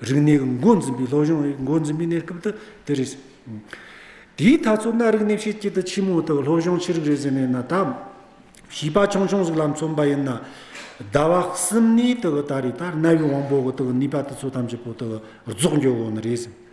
རིག་གནས་ཀྱི་འགོ་འཛིན་པའི་སློབ་སྦྱོང་འགོ་འཛིན་པའི་གནས་སྐབས་དེ་རེད། དེའི་མཐའ་མཚོ་སྣ་རིག་གནས་ཕྱེད་སྐྱིད་དུ་ཆེན་མོ་དག་སློབ་སྦྱོང་ཆེ་རིགས་རེད་ཟེར་ནས་ན་ད། བྱིས་པ་ཆུང་ཆུང་ཟིག་ལ་མཚོན་པ་ཡིན་ན། ཟླ་བ་གསུམ་གནས་དག་ད་རེས་ད་རྣ་བའི་དབང་པོ་དག་ནུས་པ་དེ་ཚོ་ཐམས་ཅད་པོ་དག་རྫོགས་འགྱོ་དགོས་ནི་རེད།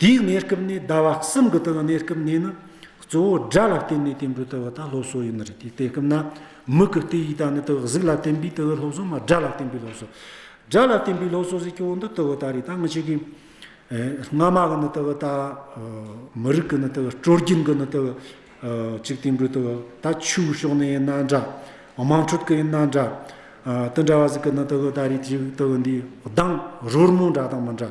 དེའི་གནས་སྐབས་ནི་ཟླ་བ་གསུམ་གྱི་སྟེང་གནས་སྐབས་ནས་ནི་གཙོ་བོ་སྒྲ་ལ་བརྟེན་ནས་བརྟེན་པའི་དུ་བ་དང་སློབ་གསོ་ཡིན་ནི་རེད་དེ་སྐབས་ན་མིག་གི་དེ་ཡིས་དང་ནི་དུ་བ་གཟུགས་ལ་བརྟེན་པའི་དུ་བའི་སློབ་གསོ་མ་སྒྲ་ལ་བརྟེན་པའི་སློབ་གསོ་སྒྲ་ལ་བརྟེན་པའི་སློབ་གསོ་ཟེར་ཀྱང་འདི་དུ་བ་ལྟར་རེད་ད་ངི་ཆོས་ཀྱི་སྔ་མ་གི་ནི་དུ་བ་ད་མི་རིགས་ཀྱི་ནི་དུ་བ་སྤྲོ་སྐྱིད་ཀྱི་ནི་དུ་བ་གཅིག་བརྟེན་པའི་དུ་བ་ད་ཆུའི་ཕྱོགས་ནས་ཡིན་ན་འདྲ་དམངས་ཁྲོད་ཀྱི་ཡིན་ན་འདྲ་དེ་འདྲ་བ་ཟིག་གི་ནི་དུ་བ་ད་རེད་དུ་བ་འདིའི་གདངས་རོལ་མོ་འདྲ་དང་མི་འདྲ་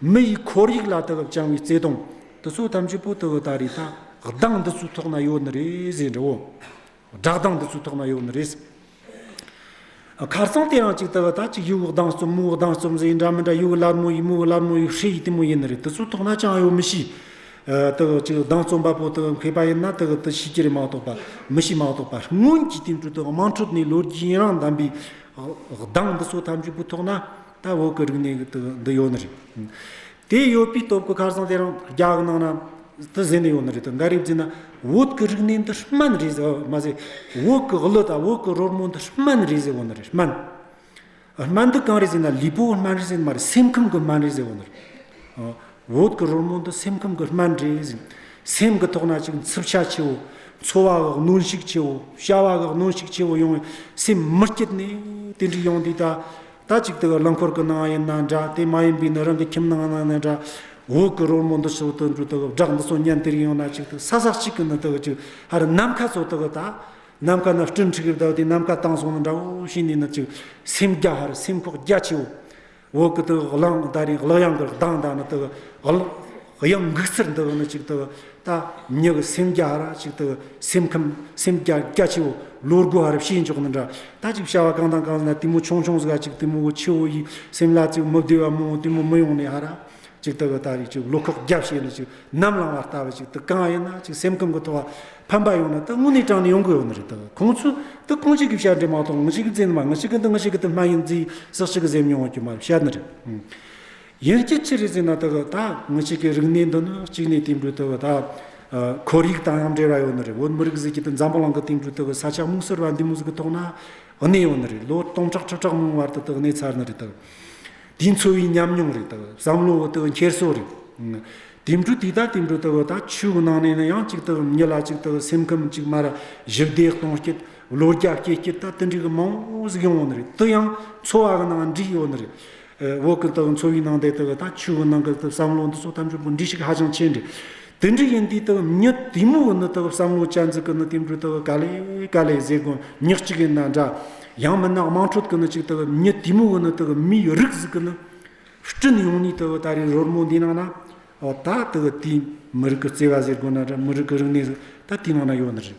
མི་ཡི་འཁོར་ཡིག་ལ་དགག་བྱང་བའི་བརྩེ་དུང་དུ་ཚོ་ཐམས་ཅད་པོ་ཏི་འི་ད་རེས་ད་གདངས་འདི་ཚོའི་ཐོག་ན་ཡོད་ནི་རེད་ཟེར་འདྲི་བོ། སྒྲག་གདངས་འདི་ཚོའི་ཐོག་ན་ཡོད་ནི་རེད། ཁར་སང་དེ་ཡང་གཅིག་ད་ག་ད་གཅིག་ཡུའི་གདངས་རྩོམ་མོའི་གདངས་རྩོམ་ཟེར་འདྲ་མི་འདྲ་ཡུའི་སླར་མོ་ཡིན་མོའི་སླར་མོ་ཡིན་ཧྲེ་ཡི་དེ་མོ་ཡིན་ནི་རེད་དི་ཚོའི་ཐོག་ན་ཅང་ཡོད་མི་ཤི་ད་ག་གཅིག་གདངས་རྩོམ་པ་པོ་ད་ག་མཁས་པ་ཡིན་ན་ད་ག་དི་ཤི་གི་རེད་མ་གཏོགས་པ་མི་ཤི་མ་གཏོགས་པ་སྔོན་གྱི་དེང་དུས་དག་དམངས་ཁྲོད་ནས་ལོ་རྒྱུས་ཡིན་རང་བདམས་པའི་གདངས་འདི་ཚོ་ཐམས་ཅད་པོའི་ཐོག་ན། ད་འོག་གི་རིག་གནས་ཀྱི་དུ་འདི་ཡོད་ནི་རེད། དེ་ཡོད་པའི་སྟོབས་ཀྱིས་ཁར་སང་དེ་རང་རྒྱ་གི་ནང་ན་དུ་བཟེད་ནི་ཡོད་ནི་རེད་དོ་འགའ་རེས་བརྫི་ན་འོད་ཀྱི་རིག་གནས་འདི་སྨན་རེད་ཟེར་བ་མ་ཟད་འོད་ཀྱི་གླུ་དང་འོད་ཀྱི་རོལ་མོ་འདི་སྨན་རེད་ཟེར་བ་ནི་རེད་སྨན། སྨན་འདི་གང་རེད་ཟེར་ན་ལུས་པོའི་སྨན་རེད་ཟེར་ནི་མ་རེད་སེམས་ཁམས་ཀྱི་སྨན་རེད་ཟེར་བ་ནི་རེད། འོད་ཀྱི་རོལ་མོ་འདི་སེམས་ཁམས་ཀྱི་སྨན་རེད་ཟེར། སེམས་ཀྱི་ཐོག་ན་ཅིག་འཚུབ་ཆ་ཆེ་བོ་འཚོ་བ་གི་གནོན་ཤུགས་ཆེ་བོ་བྱ་བ་གི་གནོན་ཤུགས་ཆེ་བོ་ཡོང་བས་སེམས་མི་སྐྱིད་ནས་དེ་འདྲའི་ཡོང་དུས་ད་ད་ཅིག་དེ་བས་རླངས་འཁོར་གྱི་ནང་ཡིན་ན་འདྲ་དེ་མ་ཡིན་པའི་ནི་རང་གི་ཁྱིམ་ནང་ན་ནི་འདྲ། འོག་གི་རོལ་མོ་འདི་ཚོ་དུད་འགྲོ་དག་གི་སྦྲགས་འདི་ཚོ་ཉན་དེར་ཡོང་ན་ཅིག་དུ་ས་ཟག་ཅིག་གི་ནི་དག་ཅིག་ཨ་རི་ནམ་མཁའ་ཚོ་དག་གི་ད་ནམ་མཁའ་ན་སྐྲུན་འཁྲིགས་གི་དག་དེ་ནམ་མཁའ་དང་སོང་ནི་འདྲ་བོ་ཞིག་ནས་ནི་ཅིག་སེམས་རྒྱ་ཧ་རི་སེམས་ཁོག་རྒྱ་ཆེའོ། འོག་གི་དག་གི་གླང་དག་རིང་གླག་ཡང་གི་གདངས་དག་ནི་དག་གི། གཡང་འགུགས་ཚུར་འདུག་ནི་ཅིག་ཏུ་ལྟ། མྱི་གི་སེམས་རྒྱ་ར་ཅིག་ཏུ་སེམས་ཁམས་སེམས་རྒྱ་རྒྱ་ཆེ་བོ་ལོ་དགུ་ཨ་རབ་བྱེད་འཇོག་ནི་འདྲ་ལྟ་ཅིག་བྱ་བ་གང་དང་གང་ལ་དེ་མོ་ཆུང་ཆུང་ཟ་ཅིག་དེ་མོ་བུ་ཆེ་བོ་ཡིས་སེམས་ལ་ཅིག་མི་བདེ་བ་མང་བོ་དེ་མོ་མི་ཡོང་ནི་ཨ་ར་ཅིག་ཏུ་ལྟ་བའི་ཅིག་ལོ་ཁོག་རྒྱ་བྱེད་ནི་ཅིག་ནམ་ལངས་བ་ལྟ་བུ་ཅིག་ཏུ་གང་ཡིན་ན་ཅིག་སེམས་ཁམས་ཀྱི་ཐོག་ཕམ་པ་ཡོང་ནི་ཏི་དངོས་གནས་དྲང་ནས་ཡོང་གི་ཡོད་ནི་རེད་ཏི་ཁོང་ཚོས་ཏི་རྐང་གཅིག་གི་བྱ་འབྲས་མ་གཏོགས་ངི་ཅིག་གི་རྫས་ནི་མ་ངི་ཅིག་གི་འདི་ངི་ཅིག་གི་དེ་སྨན་ཡིན་རྫས་ཡིན་ཟག་ཅིག་གི་ཟེར་མྱོང་བ་གྱི་མ་རེད་བཤད་ནི་རེད། ཡིག་གི་ཕྱི་རིས་ཟིན་ན་དག་ད་ངུ་ཆོས་ཀྱི་རིག་གནས་འདི་ནི་གཅིག་ནས་དེང་དུས་དག་ད་ཁོར་ཡིག་དང་ཡང་འབྲེལ་བ་ཡོད་ནི་རེད་བོད་མི་རིགས་གཟི་བརྗིད་འཛམ་བུ་གླིང་གི་སྟེང་དུ་དག་ས་ཆ་མུག་སེར་བ་འདི་མུག་གི་ཐོག་ན་གནས་ཡོད་ནི་རེད་ལོ་སྟོང་ཕྲག་ཁྲི་ཕྲག་མང་བར་དུ་དག་གནས་ཚར་ནི་རེད་དག་དེའི་འཚོ་བའི་ཉམས་མྱོང་རེད་དག་བསམ་བློ་བོ་དག་འཁྱེར་སོ་རེད་དེང་དུས་དེ་ད་དེང་དུས་དག་ད་ཆོས་གི་ནང་ནས་ནི་ཡང་གཅིག་དག་ཉི་ལ་གཅིག་དག་སེམས་ཁམས་གཅིག་མར་བཞི་བདེ་སྟོང་སྐྱིད་ལོ་བརྒྱ་བསྐྱེད་སྐྱིད་ད་དེ་འདྲའི་གི་མང་བོ་ཟིག་ཡོང་ནི་རེད་དེ་ཡང་འཚོ་བ་གི་ནང་འདྲིས་ཡོད་ནི་རེད་འོག་གི་དག་འཚོ་བའི་ནང་དེ་དག་དང་ཆུ་བོ་ནང་གི་དག་བསམ་བློ་འདི་ཚོ་ཐམས་ཅད་འབུ་འབྲི་ཞིག་ཧ་ཅང་ཆེ་འདྲ། དེ་འདྲ་ཡིན་དུས་དག་མྱི་དེ་མོ་གི་ནི་དག་བསམ་བློ་ཅན་ཟིག་གི་ནི་དེ་འདྲུ་དག་ག་ལེ་ག་ལེ་ཟེ་གོ་མྱི་གཅིག་ཡིན་ན་འདྲ། ཡང་མིན་ན་དམངས་ཁྲོད་དུ་ནི་གཅིག་དག་མྱི་དེ་མོ་གི་ནི་དག་མིའི་རིགས་ཟིག་གི་ནི། སྤྲིན་ཡོང་ནུས་དག་ད་རེས་རོལ་མོ་འདི་ནང་ན། ད་དག་དེའི་མི་རིགས་ཀྱི་བརྩེ་བ་ཟེ་གོ་ན་འདྲ་མི་རིགས་ཀྱི་རིག་གནས་ཟིག་ད་དེའི་ནང་ན་ཡོད་ནི་རེད།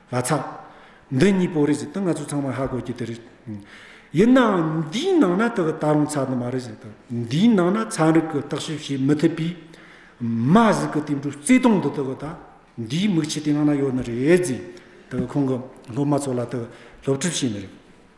ལ་ཚ། འདི་གཉིས་པོ་རེད་ཟེར་ཏེ་ང་ཚོ་ཚང་མ་ཧ་གོ་གི་དེ་རེད། ཡིན་ནའང་འདིའི་ནང་ན་དག་ད་རུང་ཚ་ནི་མ་རེད་ཟེར་ཏེ། འདིའི་ནང་ན་ཚན་རིག་གིས་བརྟག་ཞིབ་བྱེད་མི་ཐུབ་པས། མ་གཟུགས་ཀྱི་དེ་འདྲའི་བརྩེ་དུང་འདི་དག་ད་འདིའི་མིག་ཆུ་དེ་སྔ་ན་ཡོད་ནི་རེད་ཟེར་ཏེ་ཁོང་གི་སློབ་མ་ཚོ་ལ་དག་སློབ་ཁྲིད་བྱས་ནི་རེད།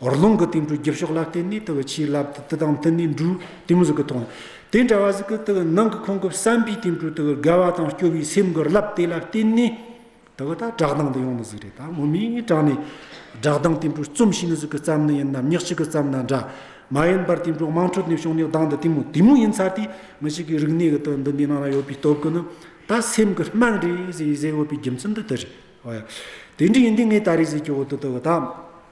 རི་ལུང་གི་སྟེང་དྲུག་བརྒྱ་ཕྱོགས་ལ་བརྟེན་ནས་དེ་བས་ཆེའི་རླབས་དེ་དེ་དང་མཐུན་ནས་འབྲུག་སྟེང་གཟུགས་ཀྱི་དོན། དེ་འདྲ་བ་གཟུགས་ཀྱི་དེ་ནང་གི་ཁོང་གི་བསམ་པའི་སྟེང་དྲུག་དེ་དགའ་བ་དང་སྐྱོ་བའི་སེམས་ཀྱི་རླབས་དེ་ལ་བརྟེན་ནས། དེ་བས་ད་བསྒྲགས་གདངས་འདི་ཡོང་ནི་གཟུགས་རེད་ད་ངོ་མས་ངས་བསྒྲགས་ནས། བསྒྲགས་གདངས་སྟེང་དྲུག་རྩོམ་ཤེས་ནི་གཟུགས་ཀྱི་རྩམ་ནི་ཡིན་ནམ་ཉག་གཅིག་གི་རྩམ་ན་འདྲ། མ་ཡིན་པར་སྟེང་དྲུག་དམངས་ཁྲོད་ནས་བྱུང་ནས་གདངས་འདི་དེ་མོ་དེ་མོ་ཡིན་ཚར་དུས་མི་ཞིག་གིས་རིག་གནས་ཀྱི་དོན་འདི་འདི་ནང་ན་ཡོད་པའི་སྟོབས་ཀྱིས་ནི། ད་སེམས་ཀྱི་སྨྲང་རེད་ཟེར་ཡིན་ཟེར་འོས་པའི་རྒྱུ་མཚན་འདི་དེ་རེད། དེ་འདྲ་ཡིན་དུས་ངས་ད་རེས་གཟིགས་ཀྱི་འོ་དོད་དེ་བས་ད།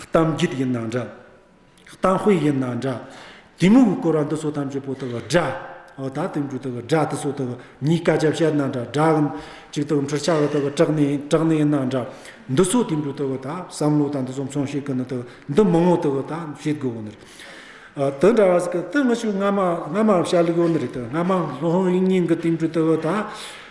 གཏམ་རྒྱུད་ཡིན་ན་འདྲ། གཏམ་དཔེ་ཡིན་ན་འདྲ། དེ་མུག་གི་སྐོར་བ་འདི་སོགས་ཐམས་ཅད་པོ་ཏི་བ་སྒྲ། འོ་ད་དེ་འབྲུ་ཏི་བ་སྒྲ་དེ་སོགས་ཏི་བ་གཉིས་ཀ་བྱ་བྱེད་ན་འདྲ་སྒྲ་གི། ཅིག་ཏུ་འཁྲུལ་ཆ་བ་ཏི་བ་དྲག་ནས་དྲག་ནས་ཡིན་ན་འདྲ། འདི་སོགས་དེ་འབྲུ་ཏི་བ་དང་བསམ་བློ་དང་འདི་སོགས་མཚུངས་ཤིག་གི་ནི་ཏི་བ་འདི་མི་ངོ་ཏི་བ་དང་བྱེད་དགོས་བོ་ནི་རེད། དེ་འདྲ་བ་ཟིག་གི་ཏི་ངི་ཆོས་སྔ་མ་སྔ་མ་བྱ་ལུགས་བོ་ནི་རེད་དེ་སྔ་མ་སློང་ཡིན་ཡིན་གི་དེ་འབྲུ་ཏི་བ་དང།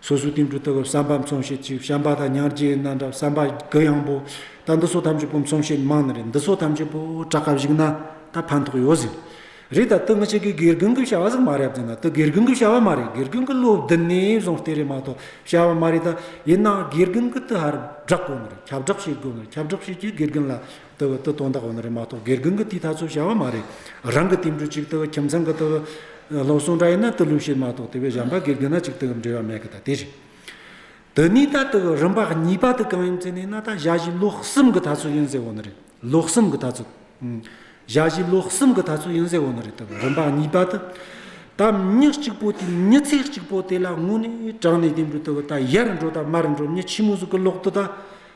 སོ་སོའི་སྟེང་དྲུག་རྟ་བབས་སྲམ་པ་མཚོན་བྱེད་གཅིག་བྱམས་པ་དང་ཉག་རྗེའི་སྣ་འདྲ་བསམ་པ་དགུ་གཡང་པོ་ད་འདི་སོགས་ཐམས་ཅད་པོ་མཚོན་བྱེད་མི་མང་ན་རེ་འདི་སོགས་ཐམས་ཅད་པོ་བྲག་དཀར་བཞུགས་ན་ད་ཕན་ཐོགས་ཡོད་ཟེར། རེད་ད་དེ་མི་གཅིག་གིས་དགེ་རྒན་གྱི་བྱ་བ་ཟིག་མ་རེད་བདེན་ན་དེ་དགེ་རྒན་གྱི་བྱ་བ་མ་རེད་དགེ་རྒན་གྱི་བློ་བདེན་ནས་བཟུང་བལྟས་རེད་མ་གཏོགས་བྱ་བ་མ་རེད་ད་ཡིན་ན་དགེ་རྒན་གྱིས་དེ་ཧར་བསྒྲགས་དགོས་ངེས་རེད་ཁྱབ་བསྒྲགས་བྱེད་དགོས་ངེས་རེད་ཁྱབ་བསྒྲགས་བྱས་ཀྱིས་དགེ་རྒན་ལ་ལྟ་བུ་ལྟ་སྟོང་དག་པ་ན་རེ་མ་གཏོགས་སྒེར་གང་གི་ལྟའི་ཐག་ཆོད་བྱ་བ་མ་རེད། རང་གི་ལྟའི་འབྲུ་གཅིག་ལྟ་བུ་ཁྱིམ་ཚང་གི་ལྟ་བུ། སློབ་སྲུང་འདྲ་ཡིན་ན་ལྟ་ལུགས་ཤེས་མ་གཏོགས་དེ་བས་གཞན་པ་སྒེར་གང་ན་གཅིག་ལྟ་བུར་འབྲེལ་བ་མེད་གི་ད་དེ་རེད། དེ་ནས་ད་ལྟ་བུ་རིམ་པ་གཉིས་པ་དེ་གང་ཡིན་ཟེར་ནས་ན་ད་གཞལ་བྱའི་ལུགས་གསུམ་གི་ཐག་ཆོད་ཡིན་ཟེར་བ་ན་རེ། ལུགས་གསུམ་གི་ཐག་ཆོད། གཞལ་བྱའི་ལུགས་གསུམ་གི་ཐག་ཆོད་ཡིན་ཟེར་བ་ན་རེ་ལྟ་བུ་རིམ་པ་གཉིས་པ་དེ། ད་མྱི་གཅིག་པོ་དེ་མྱི་ཚེ་གཅིག་པོ་དེ་ལ་དངོས་གནས་དྲང་གནས་ལྟའི་འབྲུ་ལྟ་བུ་ད་ཡར་འགྲོ་ད་མར་འགྲོ་མྱི་ཕྱི་མུ་ཟུག་གི་ལོག་ཏུ་ད་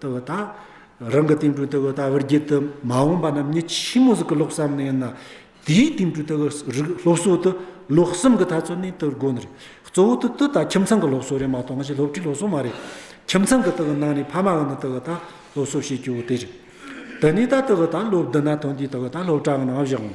ལྟ་བུ་དང། རང་གི་ཏིང་འབྲུ་ལྟ་བུ་ལྟ་བུར་བགྱིད་དུ་མ་འོངས་པ་རྣམས་ཉིད་ཕྱི་མོ་གཟུགས་ཀྱི་ལོག་བསམ་ནི་ཡིན་ན། དེའི་ཏིང་འབྲུ་ལྟ་བུ་རིགས་སློབ་གསོ་དུ་ལོག་བསམ་གྱི་ཐ་ཚོད་ནི་ཏུ་དགོན་རེད། གཙོ་བོ་ཏུ་ཏུ་དང་ཁྱིམ་ཚང་གི་སློབ་གསོ་རེད་མ་གཏོགས་ང་ཞིག་སློབ་ཁྲིད་སློབ་གསོ་མ་རེད། ཁྱིམ་ཚང་གི་ཏུ་གི་ནང་ནས་ཕ་མ་གི་ནི་ཏུ་གི་དང་སློབ་གསོ་བྱེད་རྒྱུ་དེ་རེད། དེ་ནས་ད་ཏུ་གི་དང་སློབ་བསྡུ་ན་ཐོན་དུས་ཏུ་གི་དང་སློབ་གྲྭ་གི་ནང་བཞག་ངོ།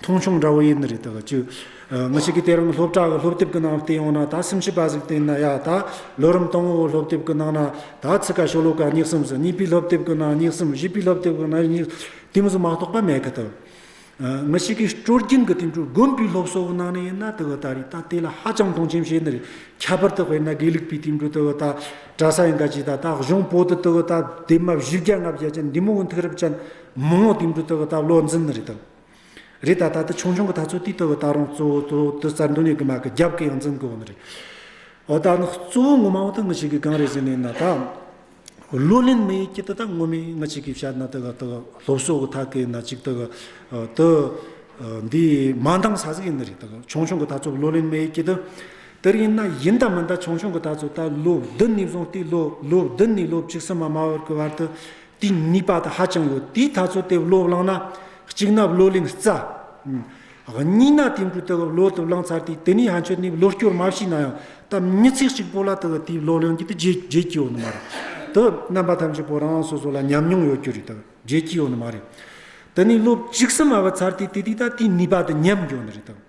མཐོང་ཆུང་འདྲ་བོ་ཡིན་ནི་རེད་ད་བ་ཅུ། མི་ཞིག་གིས་དེ་རིང་སློབ་གྲྭ་གི་སློབ་དེབ་ཀྱི་ནང་བལྟས་ཡོང་ན་ད་སེམས་ཤུགས་པ་ཟིག་བསྟན་ན་ཡག་ད་ལོ་རིམ་སྟོང་བོའི་སློབ་དེབ་ཀྱི་ནང་ན་ད་ཚིག་ཀ་ཤོ་ལོ་ཀ་གཉིས་གསུམ་སོ་གཉིས་པའི་སློབ་དེབ་ཀྱི་ནང་གཉིས་གསུམ་བཞི་པའི་སློབ་དེབ་ཀྱི་ནང་གཉིས་གསུམ་གཏིང་ཟུག་མ་གཏོགས་པ་མེད་གི་འདུག། མི་ཞིག་གིས་སྤྲོ་སྐྱིད་ཀྱི་དུས་འགྲོ་དགོན་པའི་སློབ་གསོ་གི་ནང་ནས་ཡིན་ན་དེ་བས་ད་རེས་ད་དེ་ལ་ཧ་ཅང་མཐོང་ཆེན་བྱེད་ནི་རེད་ཁྱད་པར་དུ་དཔེར་ན་དགེ་ལུགས་པའི་དུས་འགྲོ་དེ་བས་ད་གྲྭ་ས་ཡིན་ག་ཅིག་ད་ད་གཞུང་པོ་ཏི་དེ་བས་ད་དེབ་མ་བཞི་བརྒྱ་ལྔ་བརྒྱ་ཅན་འདི་མོ་བོ་འཐུག་རབས་ཅན་མི་མང་དུས་འགྲོ་དེ་བས་ད་བློ་འཛིན་ནི་རེད་ད། རེད་ད་ལྟ་དུ་ཆུང་ཆུང་གི་ཐག་ཚོད་དུས་དུ་བུ་ད་རུང་གཙོ་བོ་གཙོ་བོ་དུ་རྩར་འདུག་ནས་གི་མ་གི་རྒྱབ་གི་ཡང་འཛིན་དགོས་ནི་རེད། འོ་ད་ནི་གཙོ་བོ་ངོ་མ་འོ་ད་ངི་ཆིག་གི་སྒང་རེད་ཟེར་ནས་ན་ད། བློ་ལེན་མི་ཡི་སྐྱིད་དུ་ད་ངོ་མི་ངི་ཆིག་གི་བཤད་ན་དུ་གི་དུ་ལྷོ་བསོག་གི་ཐག་གི་ན་ཅིག་དུ་གི་དུ། འདི་མ་འདང་ས་ཟིག་ཡིན་ནི་རེད་ད་གི་ཆུང་ཆུང་གི་ཐག་ཚོད་བློ་ལེན་མི་ཡི་སྐྱིད་དུ། དིར་ཡིན་ན་ཡིན་ད་མིན་ད་ཆུང་ཆུང་གི་ཐག་ཚོད་ད་ལོ་བདུན་ནི་བཟུང་སྟེ་ལོ་བདུན་ནི་ལོ་བཅུ་གསུམ་མ་མ་བར་གི་བར་དུ་དེའི་ནུས་པ་དང་ཧ་ཅང་ཡོད་དེ་ད་ཚོད་དེ་བློ་བླངས་ན་གཅིག་ན་བློ་ལིངས་རྩ། གཉིས་ན་དེ་འབྲུ་དེ་བློ་དུ་བླངས་ཚར་དུས་དེ་ནས་ཧ་ཆོད་ནས་བློ་སྐྱོར་མ་བྱས་ན་ཡང་ད་མི་ཚེ་གཅིག་པོ་ལ་དེ་དེའི་བློ་ལེན་རྒྱུ་དེ་བརྗེད་བརྗེད་ཀྱི་ཡོད་ནི་མ་རེད་དོ། རྣམ་པ་ཐམས་ཅད་པོ་རང་རང་སོ་སོ་ལ་ཉམས་མྱོང་ཡོད་རྒྱུ་རེད་དོ་བརྗེད་ཀྱི་ཡོད་ནི་མ་རེད། དེ་ནས་བློ་གཅིག་སུ་མ་བབས་ཚར་དུས་དེ་དུས་ད་དེའི་ནུས་པ་དེ་ཉམས་ཡོད་ནི་རེད་དོ།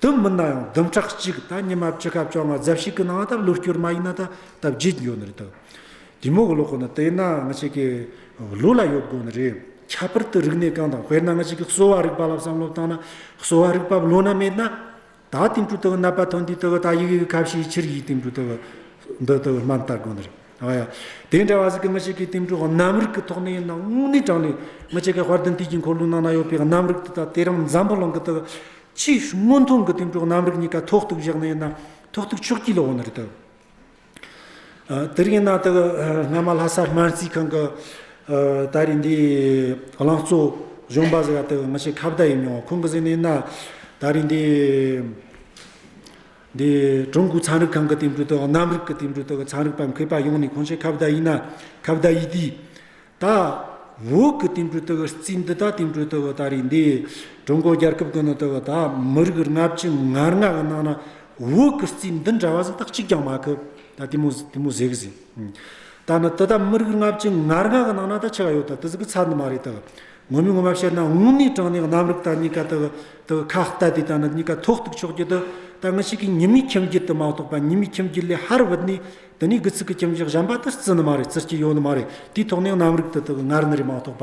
དུམ་མིན་ན་ཡང་དུམ་ཕྲག་གཅིག་ད་ཉི་མ་བཅུ་སྐབས་བཅོ་ལྔ་རྫབ་ཞིག་གི་ནང་ད་ལུས་སྐྱུར་མ་ཡིན་ན་ད་ད་བརྗེད་འགྱོ་ནི་རེད་དོ། དེ་མོ་གི་ལོ་ཁོ་ན་དེ་ཡིན་ན་ང་ཅིག་གི་ལུས་ལ་ཡོད་དགོ་ནི་རེད། ཁྱད་པར་དུ་རིག་གནས་གང་དང་དཔེར་ན་ང་ཅིག་གི་གསོ་བ་རིག་པ་ལ་བསམ་བློ་བཏང་ན་གསོ་བ་རིག་པ་བློ་ན་མེད་ན། ད་དེང་དུས་དེ་གི་ནད་པ་ཐོན་དུས་དེ་གི་ད་ཡི་གི་ཁ་བྱེའི་ཕྱིར་ཡིད་དེང་དུས་དེ་གི་འདི་དེ་གི་སྨན་བལྟ་དགོ་ནི་རེད། དེ་འདྲ་བ་ཞིག་གི་མི་ཞིག་གི་གཏིང་དྲུག་གི་རྣམ་རིག་གི་ཐོག་ནས་ཡིན་ན་དངོས་གནས་དྲང་ལེ་མི་ཅིག་གི་དཔར་དུ་འདུས་ཀྱི་འཁོར་ལོའི་ནང་ན་ཡོད་པའི་རྣམ་རིག་དེ་དག་དེ་རིང་འཛམ་བུ་གླིང་གི་སྟེང་ཕྱིའི་སྔོན་ཐོན་གྱི་གཏིང་དྲུག་རྣམ་རིག་གཉིས་ཀ་ཐོག་ཐུག་བཞག་ནས་ཡིན་ན་ཐོག་ཐུག་ཕྱོགས་སྐྱིད་ལ་འོང་ནི་རེད་དོ། དེ་རིང་ཡིན་ན་དག་སྔ་མ་ལྷ་ས་སྨན་རྩིས་ཁང་གི་ད་རེས་འདི་ལང་གཙོ་གཞོན་པ་ཟེར་བ་དག་མི་ཞིག་ཁ་བརྡ་ཡིན་མྱོང་ཁོང་གི་གཟིགས་ནས་ཡིན་ན་ད་རེས་འདི། འདི་ཀྲུང་གོའི་ཚན་རིག་ཁང་གི་འདེམས་སྒྲུག་དང་གནམ་རིག་གི་འདེམས་སྒྲུག་དག་གི་ཚན་རིག་པ་མཁས་པ་ཡོངས་ནས་གང་ཤེས་ཁ་བརྡ་ཡིན་ན་ཁ་བརྡ་ཡིས་དུས་ད་འོག་གི་འདེམས་སྒྲུག་དག་གི་རྩིས་འདི་དག་འདེམས་སྒྲུག་དག་གི་ད་རེས་འདི་ཀྲུང་གོ་རྒྱལ་ཁབ་ཀྱི་ནང་དུ་ད་མི་རིགས་ལྔ་བཅུ་ངར་ལྔ་གི་ནང་ན་འོག་གི་རྩིས་འདི་འདྲ་བ་ཟིན་ཏག་གཅིག་ཀྱང་མ་ཁུབ་ད་དེ་མོ་དེ་མོ་ཟེར་གི་ཟིན་ད་ནི་དེ་ད་མི་རིགས་ལྔ་བཅུ་ངར་ལྔ་གི་ནང་ན་ད་ཆི་ག་ཡོད་ད་དེ་ཟིག་གི་ཚར་འདི་མ་རེད་ད་ངོ་མི་ངོ་བར་བཤད་ན་དངོས་གནས་དྲང་གནས་རྣམ་རིག་དང་གཉིས་ཀ་དག་དག་ཁ་བལྟ་དེ་དང་ནི་གཉིས་ཀ་ཐོགས་རྟུག་ཕྱོགས་རྒྱུད་དུ་ད་ངི་ཞིག་གིས་ཉི་མའི་ཁྱིམ་རྒྱུད་དུ་མ་གཏོགས་པ་ཉི་མའི་ཁྱིམ་རྒྱུད་ལས་ཧར་བུད་ནས་དེ་ནས་དགུ་ཚིགས་ཀྱི་ཁྱིམ་བཞག་གཞན་པ་དེར་རྩི་ནི་མ་རེད་རྩི་སྐྱེ་ཡོད་ནི་མ་རེད་དེའི་ཐོག་ནས་རྣམ་རིག་དུ་དག་ངར་ནི་རེད་མ་གཏོགས་པ་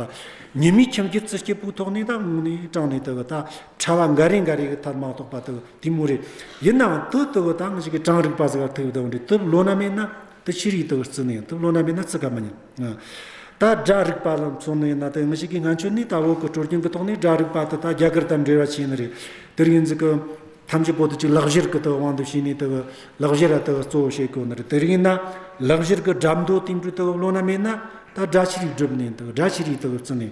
ཉི་མའི་ཁྱིམ་རྒྱུད་རྩི་སྐྱེ་པོའི་ཐོག་ནས་དང་དངོས་གནས་དྲང་གནས་དག་ད་ཕྲ་བ་འགའ་རེ་འགའ་རེ་གི་མཐར་མ་གཏོགས་པ་དག་དེ་མུར་རེད་ཡིན་ནའང་དུ་དག་ད་ངི་ཞིག་གིས་དྲང་རིག་པ་ཟེར་བ་ཐུགས་དག་འདྲེ་དུ་བློ་ན་མེད་ན། དེ་ཕྱིར་ཡིད་དུ་བརྩི་ནས་དུག་སློང་ན་མེད་ན་བརྩི་དཀའ་མི་ཉན། ད་དགྲ་རིག་པ་ལ་མཚོན་ནས་ན་དེ་མི་ཞིག་གིས་ང་ཁྱོད་ནི་ད་བོད་ཀྱི་དྲོ་རྒྱུན་གྱི་ཐོག་ནས་དགྲ་རིག་པ་དེ་དག་རྒྱ་གར་དང་འབྲེལ་བ་ཆེན་རེད། དེར་ཡིན་ཟིག་གི། ཐམས་ཅད་པོ་ཏི་ཅིག་ལག་བཞེར་གྱི་དབང་དུ་བྱས་ནས་དེ་ལག་བཞེར་བ་དེ་གཙོ་བོ་བྱེད་དགོས་ནི་རེད། དེར་ཡིན་ན། ལག་བཞེར་གྱི་དགྲ་མདོ་དེ་འདྲུད་དེ་བོད་སློང་ན་མེད་ན། ད་དགྲ་ཕྱིར་ཡིད་སྒྲིབ་ནས་དགྲ་ཕྱིར་ཡིད་དུ་བརྩི་ནས།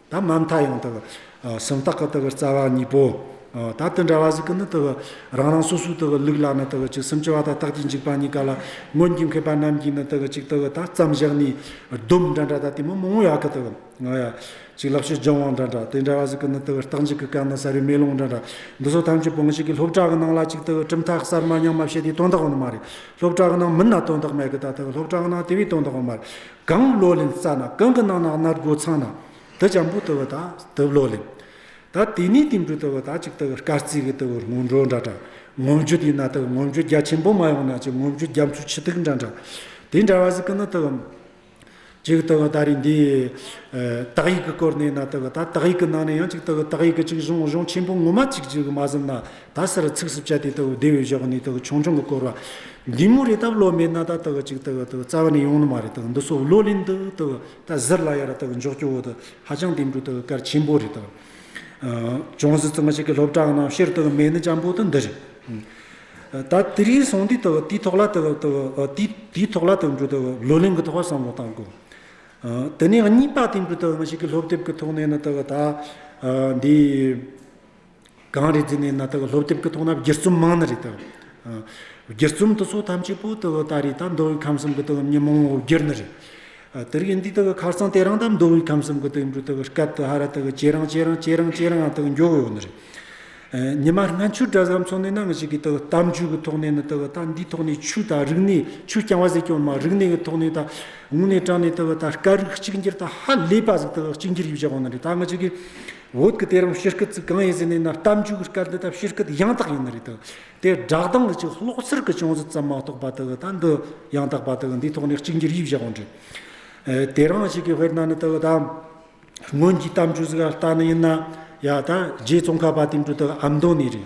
ད་མ་མཐའ་ཡང་དག་སེམས་དག་གི་དག་རྩ་བ་གཉིས་པོ། ད་དེ་འདྲ་བ་ཞིག་གི་ནི་དག་རང་རང་སོ་སོའི་དག་ལུགས་ལ་ནི་དག་ཅིག་སེམས་སྐྱེ་བ་དང་རྟག་ཅིག་འཇིག་པ་གཉིས་ཀ་ལ་སྔོན་གྱི་མཁས་པ་རྣམས་ཀྱིས་ནི་དག་ཅིག་དག་ད་བརྩམས་བཞག་ནས་སྡོམ་འདྲ་འདྲ་དང་དེ་མི་མང་བོ་ཡག་གི་དག་ང་ཡ་ཅིག་ལག་ཤེས་སྦྱང་བ་འདྲ་འདྲ་དེ་འདྲ་བ་ཞིག་གི་ནི་དག་རྟག་འཇིག་གི་སྐབས་ན་ས་རུའི་མེ་ལོང་འདྲ་འདྲ་འདི་ཚོ་ཐམས་ཅད་བང་ཤིག་གི་སློབ་གྲྭ་གི་ནང་ལ་ཅིག་དག་གྲུབ་མཐའ་གསར་མ་ཉམས་མ་བཤད་དེ་སྟོན་དག་བ་ནི་མ་རེད་སློབ་གྲྭ་གི་ནང་མི་སྣ་སྟོན་དག་མེད་གི་ད་དག་སློབ་གྲྭ་གི་ནང་དེ་བས་སྟོན་དག་བ་མ་རེད་གང་བློ་ལིང་བཙགས་ན་གང་གི་ནང་ན་སྣར་སྒོ་ཚང་ན་དུ་བྱམས་པོ་དུ་བུ་དག་དུ་བློ་ལིང། ད་དེ་ནས་དེ་འབྲུ་དུ་བུ་དག་ཅིག་དུ་བུ་སྐར་རྩིས་ཀྱི་དུ་བུར་སྔོན་འགྲོ་འདྲ་འདྲ་ངོམ་རྒྱུ་དེས་ན་དུ་བུ་ངོམ་རྒྱུ་རྒྱ་ཆེན་པོ་མ་ཡོང་ན་ཅིག་ངོམ་རྒྱུ་རྒྱ་མཚོ་ཆུ་ཐིགས་འདྲ་འདྲ་དེ་འདྲ་བ་ཟིག་གི་ནི་དུ་བུ། ཅིག་དུ་བུ་ད་རེས་འདི། དག་ཡིག་གི་སྐོར་ནས་ན་དུ་བུ་ད་དག་ཡིག་གི་ནང་ནས་ཡང་ཅིག་དུ་བུ་དག་ཡིག་གི་ཅིག་གཞུང་གཞུང་ཆེན་པོ་ངོ་མ་ཅིག་ཅིག་མ་ཟིན་ན་ད་སར་ཚིགས་སུ་བཅད་དེ་ལྟ་བུ་བདེ་བའི་གཞག་ནས་དག་ཆུང་ཆུང་གི་བསྐོར་བ། འདི་མོ་རེ་སྟབས་ལོ་མའི་ནཱ་ད་དག་ཅིག་དག་དག་རྩ་བ་ནས་ཡོང་ནི་མ་རེ་དག་འདི་སོགས་བློ་ལས་འདི་དག་ད་གཟིར་ལ་ཡར་དག་འཇོག་སྐྱོ་བོ་དག་ཧ་ཅང་དེ་འདྲུ་དག་སྐར་ཆེན་པོ་རེ་དག། ཅུང་ཟད་ཙམ་ཞིག་གི་སློབ་གྲྭའང་ནང་ཕྱིར་དག་མེད་ནི་ཅམ་པོ་དག་འདི་རེད། ད་དེ་རིང་སོང་དུས་དག་དུས་ཐོག་ལ་དག་དག་དུས་ཐོག་ལ་དག་འདྲུ་དག་བློ་ལས་འགུལ་ཐོག་བསམ་བློ་བཏང་དགོས། དེ་ནས་གཉིས་པ་དེ་འདྲུ་དག་ཞིག་གི་སློབ་དེབ་ཀྱི་ཐོག་ནས་ནི་དག་ད་འདི། གངས་རི་འདི་ནས་ན་དག་ལྷོ་ལྟེབས་ཀྱི་ཐོག་ན་བརྒྱད་བརྩོམ་མང་ན་རེ་དང། བརྒྱད་བརྩོམ་དུ་སོ་ཐམས་ཅད་པོ་དག་ལྟ་རེ་དང་མདོ་དབུས་ཁམས་གསུམ་གྱི་དག་བསྙེན་མང་བོ་བརྒྱད་ན་རེ། དེ་རིང་འདི་དག་ཁར་སང་དེ་རང་དང་མདོ་དབུས་ཁམས་གསུམ་གྱི་དག་འབྲུ་དག་སྐལ་དུ་ཧ་ར་དག་ཇེ་རང་ཇེ་རང་ཇེ་རང་ཇེ་རང་དག་མགྱོགས་ཡོང་ན་རེ། ཉི་མ་སྔ་འཕྱུར་གྲྭ་ཟམ་མཚོ་ནས་ནང་ཞིག་གི་དག་གཏམ་རྒྱུད་ཀྱི་ཐོག་ནས་ན་དག་ད་འདིའི་ཐོག་ནས་ཆུ་དང་རིག་གནས་ཆུ་རྐྱང་བ་ཟེར་ཀྱང་མ་རིག་གནས་ཀྱི་ཐོག་ནས་ད་ངུ་ནས་སྐྲག་ནས་དག་ད་སྐད་རིགས་གཅིག་འགྱུར་ད་ཧ་ལས་པ་ཟིག་དག་གཅིག་འགྱུར་ཡོད་ཅག་ཡོང་ན་རེ་ད་ནང་ཞིག་གི། འོད་ཀྱི་དེ་རིང་ཕྱི་སྐད་ཚིག་གང་ཡིན་ཟེར་ནས་ན་གཏམ་རྒྱུད་ཀྱི་སྐད་འདི་དག་ཕྱི་སྐད་ཡང་དག་ཡིན་ནི་རེད་དོ། དེ་སྦྲགས་སྡང་གི་ཅིག་ལོག་ཚིར་གྱི་ཅུང་ཟད་ཙམ་མ་གཏོགས་པ་དེ་ད་འདི་ཡང་དག་པ་དེ་འདིའི་ཐོག་ནས་གཅིག་འགྱུར་དབྱིབས་བཞག་གོ་འདྲི། དེ་རང་ཞིག་གི་དཔེར་ན་ནི་དེ་ད་སྔོན་གྱི་གཏམ་རྒྱུད་ཟིག་ལྟ་ནི་ཡིན་ན་ཡ་ད་རྗེ་ཙོང་ཁ་པ་དེ་འདྲུ་དེ་ཨམ་མདོ་ནས་རེད།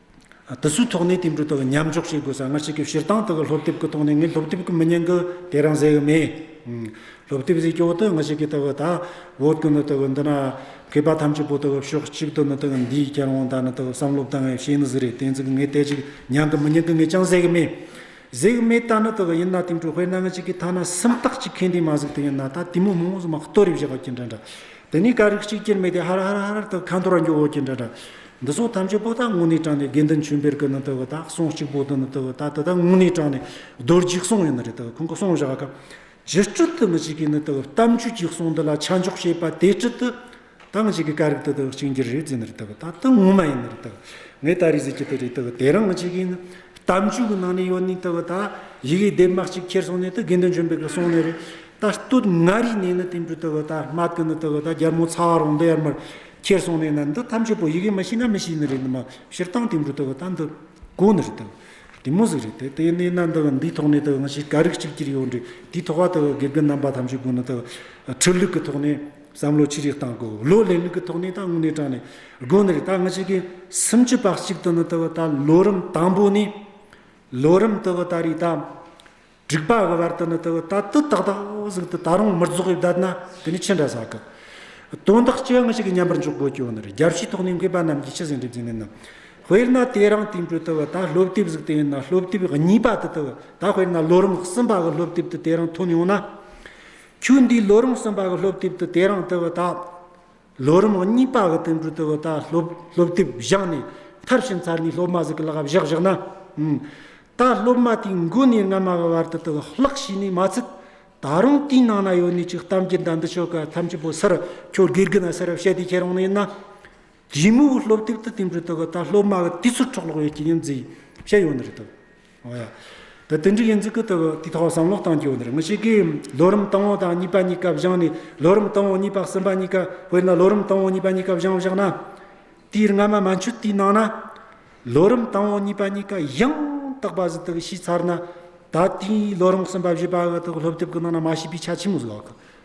དུ་སུའི་ཐོག་ནས་དེ་འབྲུ་དག་མཉམ་འཇོག་བྱེད་དགོས་ས་སྔ་ཕྱི་གི་བཤེར་སྟངས་དག་གི་སློབ་དེབ་ཀྱི་ཐོག་ནས་ངས་སློབ་དེབ་ཀྱི་མི་ཉན་གི་དེ་རང་ཟེར་གི་མེད། སློབ་དེབ་ཟེར་སྐྱོ་དག་སྔ་ཕྱི་གི་དག་གི་དག་བོད་ཀྱི་ནི་དག་གི་འདི་ན་མཁས་པ་ཐམས་ཅད་པོ་དག་གི་ཕྱོགས་གཅིག་ཏུ་ནི་དག་གི་འདིའི་བསྐྱར་དབང་དག་ནི་དག་གི་བསམ་བློ་དང་ངས་བྱེད་ནི་ཟིག་རེད་དེ་ཚིག་ངས་དེ་ཅིག་མྱང་གི་མི་མྱང་གི་ངས་ཀྱང་ཟེར་གི་མེད། ཟེར་གི་མེད་ད་ནི་དག་གི་ཡིན་ན་དེ་འབྲུ་དཔེར་ན་ངས་ཅིག་གི་ཐ་ན་སུམ་རྟགས་ཅིག་གི་འདི་མ་ཟིག་དེ་ཡིན་ན་ད་དེ་མོ་མོ་མོ་ཟིག་མ་ལྟོ་རེ་བཞག་གི་འདྲ་འདྲ་དེ་ནས་ག་རིགས་ཅིག་ཀྱིར་མེད་དེ་ཧར་ཧར་ཧར་ཧར་དག་གི་ཁ་འཐོར་ར་འགྱོ་འོ་གི་འདྲ་འདྲ་འདི་ཚོ་ཐམས་ཅད་པོ་ཏཱ་དངོས་གནས་དྲངས་ནས་དགེ་འདུན་ཆོས་འཕེལ་གྱི་ནི་དེ་བི་ད་གསུང་གཅིག་པོ་ཏི་ནི་དེ་བི་ད་དེ་དག་དངོས་གནས་དྲངས་ནས་རྡོ་རྗེའི་གསུང་ཡིན་ནི་རེད་དེ་བི་ཁོང་གི་གསུང་བཞག་སྐབས་རྗེ་སྤྲུལ་དུ་མི་གཅིག་གིས་ནི་དེ་བི་གཏམ་རྒྱུད་ཀྱི་གསུང་འདི་ལ་ཆ་འཇོག་བྱས་པ་དེ་ཁྲིད་དུ་ཐང་གཅིག་གི་ཀ་རིག་དེ་དེ་བི་གཅིག་འགྱུར་རེད་ཟེར་ནི་རེད་དེ་བི་ད་དེ་ངོ་མ་ཡིན་ནི་རེད་དེ་བི་ངས་ད་རེས་ཟེར་གྱི་དེ་རེད་དེ་བི་དེ་རང་གི་གཅིག་གིས་ནི་གཏམ་རྒྱུད་གི་ནང་ནས་ཡོད་ནི་དེ་བི་ད་ཡི་གེ་སྡེབ་མ་གཅིག་ཁྱེར་སོང་ནི་དེ་དགེ་འདུན་ཆོས་འཕེལ་གྱི་གསུང་ནི་རེད་ད་སྟོད་མངའ་རིས་ནས་ནི་དེ་འབྲུ་དེ་བི་ད་སྨྲ་དེ་ནི་དེ་བི་ད་རྒྱལ་མོ་ཚ་བ་རོང་འདི་ཡར་མར་ཁྱེར་སོང་ནས་ན་འདི་ཐམས་ཅད་པོ་ཡི་གེ་མ་ཤེས་ན་མི་ཤེས་ནི་རེད་ནི་མ་ཕྱིར་བཏང་དེ་འབྲུ་དེ་བ་ད་འདི་གོ་ནི་རེད་དམ་དེ་མོ་ཟིག་རེད་དེ་དེ་ནས་ན་འདི་བ་འདིའི་ཐོག་ནས་དེ་བ་ང་ཤེས་ག་རིགས་གཅིག་གྱུར་ཡོད་འདྲི་དེའི་ཐོག་བ་དེ་བ་དགེ་རྒན་རྣམ་པ་ཐམས་ཅད་ཀུན་ནི་དེ་བ་ཁྲིད་ལུགས་ཀྱི་ཐོག་ནས་བསམ་བློ་ཅི་རིགས་བཏང་གོ་བློ་ལེན་ལུགས་ཀྱི་ཐོག་ནས་ད་དངོས་གནས་དྲངས་ནས་གོ་ནི་རེད་ད་ང་ཤེས་གི་སུམ་ཅུ་པ་གཅིག་ཏུ་ནི་དེ་བ་ད་ལོ་རིམ་དང་པོ་ནས་ལོ་རིམ་དེ་བ་ད་རེས་ད། སྒྲིག་པ་གི་བར་དུ་ནི་དེ་ལྟ་དུ་ཏག་ཏག་ཟིག་ཏུ་ད་རུང་མི་རྫོགས་པའི་བརྡ་ན་དེ་ནི་ཕྱི་འདྲ་ཟ་གི། དོན་དག་ཅི་ཡང་ཞིག་གི་མཉམ་པར་འཇོག་དགོས་ཀྱང་ནི་རྒྱབ་ཕྱིའི་ཐོག་ནས་མཁས་པ་རྣམས་ཀྱིས་ཕྱི་ཟིན་སྒྲིབ་ཟིན་མིན་ནམ། དཔེར་ན་དེ་རང་དེང་དུ་དུ་བ་ད་སློབ་དེབ་ཟིག་དེ་ཡིན་ན་སློབ་དེབ་གཉིས་པ་དུ་དུ་བ་ད་དཔེར་ན་ལོ་རིམ་གསུམ་པ་གི་སློབ་དེབ་དུ་དེ་རང་ཐོན་ཡོང་ན། ཁྱོད་འདིའི་ལོ་རིམ་གསུམ་པ་གི་སློབ་དེབ་དུ་དེ་རང་དུ་བ་ད། ལོ་རིམ་གཉིས་པ་གི་དོན་དྲུག་ཏུ་བུ་དང་སློབ་དེབ་བཞག་ནས་མཐར་ཕྱིན་ཚར་ནས་སློབ་མ་ཟིག་གི་ལག་བཞག་བཞག་ན། ད་སློབ་མ་དེའི་མགོ་ནས་སྣ་མ་གི་བར་དུ་དུག་ལྷག་ཤི་ནས་མ་ཚུད། ད་རུང་དེའི་ནང་ན་ཡོད་ནས་ཅིག་གཏམ་གྱི་མདའ་འདི་ཆོ་ག་ཐམས་ཅད་པོ་སར་ཁྱོད་དགེ་རྒན་ན་སར་བཤད་དེ་ཁྱེད་རང་ནས་ཡིན་ན། གཞི་མོའི་སློབ་དེབ་ཏུ་དེ་འབྲུ་དུག་གི་ད་སློབ་མ་གི་དུས་ཚོད་འཕྲོག་ལོག་ཡོད་ཀྱི་ཡིན་ཛི་བཤད་ཡོད་ནི་རེད་དོ། ཨོ་ཡ། ད་དུས་འགྲིག་ཡིན་ཚུལ་སྐུ་དུ་དེ་ཐོག་བསམ་བློ་བཏང་གྱོ་འདིར་ངུ་ཤེས་ཀི། ལོ་རིམ་དང་བོ་དང་གཉིས་པ་གཉིས་ཀ་བཞག་ནས་ལོ་རིམ་དང་བོ་གཉིས་པ་གསུམ་པ་གཉིས་ཀ་དཔེར་ན་ལོ་རིམ་དང་བོ་གཉིས་པ་གཉིས་ཀ་བཞང་བཞག་ན། དེའི་སྔ་མ་མ་འཆོལ་དུས་ནང་ན། ལོ་རིམ་དང་བོ་གཉིས་པ་གཉིས་ཀ་ཡང་དག་པ་བཞི་དག་ཤེས་ཚར་ན། ད་དེའི་ལོ་རིམ་གསུམ་པ་བཞི་པ་འུ་ཐུག་སློབ་དེབ་ཀྱི་ནང་ན་མ་ཤེས་པའི་ཆ་ཆེན་མོ་བཟོ་བ་ཁོ།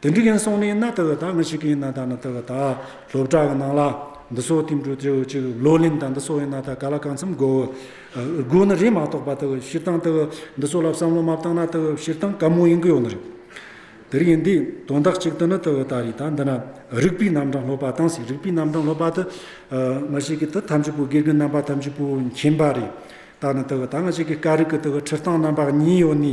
དེ་འདྲི་མཁན་སོང་ནས་ན་དེ་བས་ད་ང་ཞིག་གིས་ན་ད་ན་དེ་བས་ད་སློབ་གྲྭ་གི་ནང་ལ་འདི་སོགས་བསྟིམ་འགྲོ་དེ་བས་ཅིག་བློ་ལིང་དང་འདི་སོགས་ཡིན་ན་ད་ག་ལ་གང་འཚམ་དགོས། དགོས་ནི་རེད་མ་གཏོགས་པ་དེ་བས་ཕྱིར་བཏང་དེ་བས་འདི་སོགས་ལ་བསམ་བློ་མ་བཏང་ན་དེ་བས་ཕྱིར་བཏང་ག་མུག་ཡིན་གི་ཡོད་ནི་རེད། དེ་རིགས་ཡིན་དུས་དོན་དག་ཅིག་དེ་ནི་དེ་བས་ད་རེད་ད་འདི་ན་རིགས་པའི་རྣམ་གྲངས་སློབ་པ་དང་ཟེར་རིགས་པའི་རྣམ་གྲངས་སློབ་པ་དེ་ང་ཞིག་གིས་དེ་ཐམས་ཅད་པོ་དགེ་རྒན་རྣམ་པ་ཐམས་ཅད་པོ་མཁྱེན་པ་རེད། ད་ནི་དེ་བས་ད་ང་ཞིག་གིས་ཀ་རིགས་ཀྱི་དེ་བས་ཁྲིད་སྟངས་རྣམ་པ་གཉིས་ཡོད་ནི་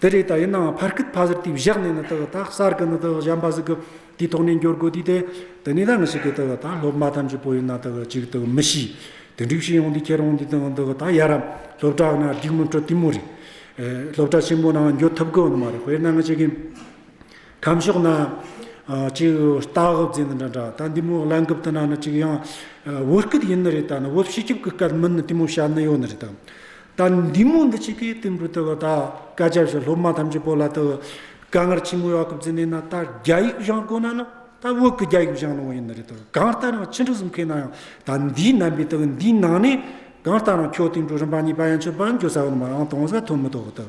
དེ་རེད་ད་ཡིན་ནའང་ཕར་སྐད་ཕ་ཟེར་དུས་བཞག་ནས་ནི་དག་དག་གསར་གི་ནི་དག་གཞན་པ་ཟིག་གི་དུས་ཐོག་ནས་འགྱུར་དགོས་དུས་དེ་དེ་ནས་ད་ངི་ཞིག་གི་དག་ད་སློབ་མ་ཐམས་ཅད་པོ་ཡིན་ན་དག་ཅིག་དག་མི་ཤེས་དེ་འགྲིག་ཤེས་ཡོང་དུས་ཁྱེད་རང་དུས་དང་དག་ད་ཡ་རབ་སློབ་གྲྭ་ན་རྒྱུགས་མི་འཕྲོད་དུས་མོ་རེད་སློབ་གྲྭ་ཆེན་མོ་ནའང་འགྱོད་ཐུབ་དགོས་ནི་མ་རེད་དཔེར་ན་ངི་ཞིག་གི་ཁམས་ཕྱོགས་ན་ཅིག་རྟ་འུབ་རྫས་འདི་འདྲ་འདྲ་ད་འདི་མོ་གླ་འགུབ་དུ་ན་ནི་ཅིག་ཡང་འུབ་སྐད་ཡིན་ནི་རེད་ད་ནི་འུབ་ཤེས་སྐྱུབ་གི་སྐད་མིན་ནི་དུས་མོ་བྱ་ནི་ཡོད་ནི་རེད་དམ་དང་འདི་མོ་འདི་ཆིག་གི་སྟེང་བུ་དེ་བ་དག་ཀ་བྱ་བྱ་སློབ་མ་ཐམས་ཅད་པོ་ལ་དུ་ག་སྔར་ཕྱི་མོ་ཡག་གི་བརྫི་ནས་ན་ད་རྒྱ་ཡིག་བཞང་དགོས་ན་ནི་ད་བོད་ཀི་རྒྱ་ཡིག་བཞང་ནོ་ཡིན་ནི་རེད་དུ་གང་ལྟར་ཡང་ཕྱི་འབྲུ་གསུམ་ཁེ་ན་ཡང་ད་འདིའི་རྣམ་པའི་དུ་འདིའི་ནང་ནས་གང་ལྟར་ཡང་ཁྱོ་སྟེང་འབྲུ་རིམ་པ་གཉིས་པ་ཡང་ཆོད་པ་འགྱོ་ས་ཡོད་ནི་མ་ཡང་དོང་ས་ཐོན་མི་ཐོག་དུ།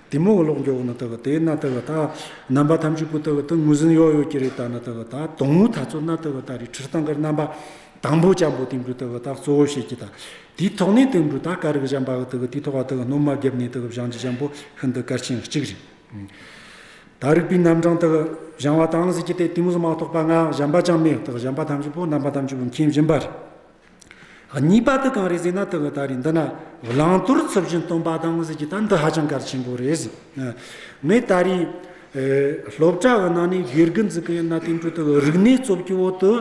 དེ་མོ་གློག་འགྱོག་ན་དག་དེ་ན་དག་ད་རྣམ་པ་ཐམས་ཅད་པོ་དག་ཏུ་ངོས་ཟིན་ཡོག་ཡོག་གྱི་རེད་ད་ན་དག་ད་དོང་ངོ་ད་ཚོ་ན་དག་ད་རི་ཁྲིར་ཐང་ཀར་རྣམ་པ་དང་པོ་ཅང་པོ་དེ་འབྲུ་དག་ད་གཙོ་བོ་བཤད་ཀྱི་ད་དེའི་ཐོག་ནས་དེ་འབྲུ་ད་ཀ་རིག་བཞམ་པ་གི་དག་དེའི་ཐོག་ཨ་དག་སྣོ་མ་བརྒྱབ་ནས་དག་བཞང་གྱི་ཅང་པོ་ཤིན་ཏུ་གལ་ཆེན་གཅིག་རེད། ད་རིག་པའི་རྣམ་གྲངས་དག་བཞང་བ་དང་ཟིག་གྱི་དེ་དེ་མོ་སུ་མ་གཏོགས་པ་ང་བཞམ་པ་ཅང་མེད་དག་བཞམ་པ་ཐམས་ཅད་པོ་རྣམ་པ་ཐམས་ཅད་པོ་མཁྱེན་བཞིན་པ་རེད། གཉིས་པ་དུ་གང་རེད་ཟེར་ན་དུ་བ་ད་རེད་འདི་ན་བླང་དོར་ཚུལ་བཞིན་སྟོན་པ་དང་ཟེར་གྱི་ད་འདི་ཧ་ཅང་གལ་ཆེན་པོ་རེད། ངས་ད་རེས་སློབ་གྲྭ་བ་ནང་ནས་དགེ་རྒན་འཛུགས་གི་ཡིན་ན་དེང་དུས་དུ་བ་རིག་གནས་གཙོ་བྱས་འོག་ཏུ་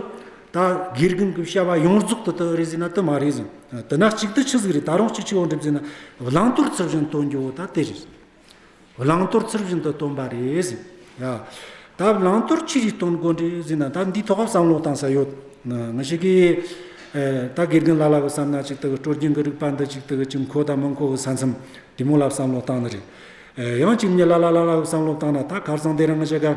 ད་དགེ་རྒན་གྱི་བྱ་བ་ཡོངས་རྫོགས་དུ་དུ་རེད་ཟེར་ན་དུ་མ་རེད། དུ་ན་གཅིག་དུ་ཆི་ཟིག་རེད་ད་རུང་གཅིག་ཆི་འོག་འགྲིམ་ཟེར་ན་བླང་དོར་ཚུལ་བཞིན་སྟོན་རྒྱུ་བོ་ད་དེ་རེད། བླང་དོར་ཚུལ་བཞིན་དུ་སྟོན་པ་རེད་ཟེར། ད་བླང་དོར་ཅི་རིགས་སྟོན་དགོས་འདྲི་ཟེར་ན་ད་འདིའི་ཐོག་བསམ་བློ་བཏང་ས་ཡོད། ང་ཞིག་གིས་ད་དགེ་རྒན་ལ་ལ་གི་བསམ་ན་ཅིག་ཏུ་སྤྲོ་སྐྱིད་ཀྱི་རིགས་པ་འདི་ཅིག་ཏུ་ཅི་མཁོ་དང་མི་མཁོ་གི་ས་མཚམས་དེ་མོ་ལ་བསམ་བློ་བཏང་ནི་རེད། ཡང་ཅིག་ངས་ལ་ལ་ལ་ལ་གི་བསམ་བློ་བཏང་ན་ད་གར་ཚང་འདི་རང་ང་ཞིག་ག།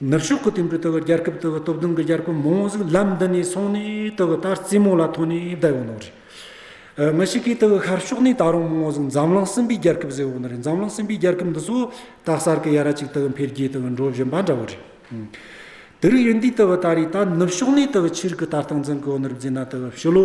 ནུབ་ཕྱོགས་ཀྱི་དུས་འགྲོ་ལྟ་བུ་རྒྱལ་ཁབ་ལྟ་བུ་སྟོབས་ལྡན་གྱི་རྒྱལ་ཁབ་མང་བོ་ཟིག་ལམ་འདི་ནས་སོང་ནས་ལྟ་བུ་ལྟར་རྩེད་མོ་ལ་ཐོགས་ནས་བསྡད་ཡོང་ནོ་རེད། མི་ཞིག་གིས་ལྟ་བུ་ཤར་ཕྱོགས་ནས་ད་རུང་མང་བོ་ཟིག་འཛམ་གླིང་གསུམ་པའི་རྒྱལ་ཁབ་ཟེར་བོ་ནི་རེད་འཛམ་གླིང་གསུམ་པའི་རྒྱལ་ཁབ་འདི་ཚོ་ད་གསར་གྱི་ཡ་ར་ཅིག་ལྟ་བུ་འཕེལ་རྒྱས་ལྟ་བུ་འགྲོ་བཞིན་པ་འདྲ་བོ་རེད། དེ་རིགས་ཡིན་དུས་ལྟ་བུ་ད་རེས་ད་ནུབ་ཕྱོགས་ནས་ལྟ་བུ་ཕྱི་རིགས་ཀྱི་ལྟ་སྟངས་འཛིན་གི་ཡོད་ནི་རིག་འཛིན་ན་ལྟ་བུ་ཕྱི་ལོ།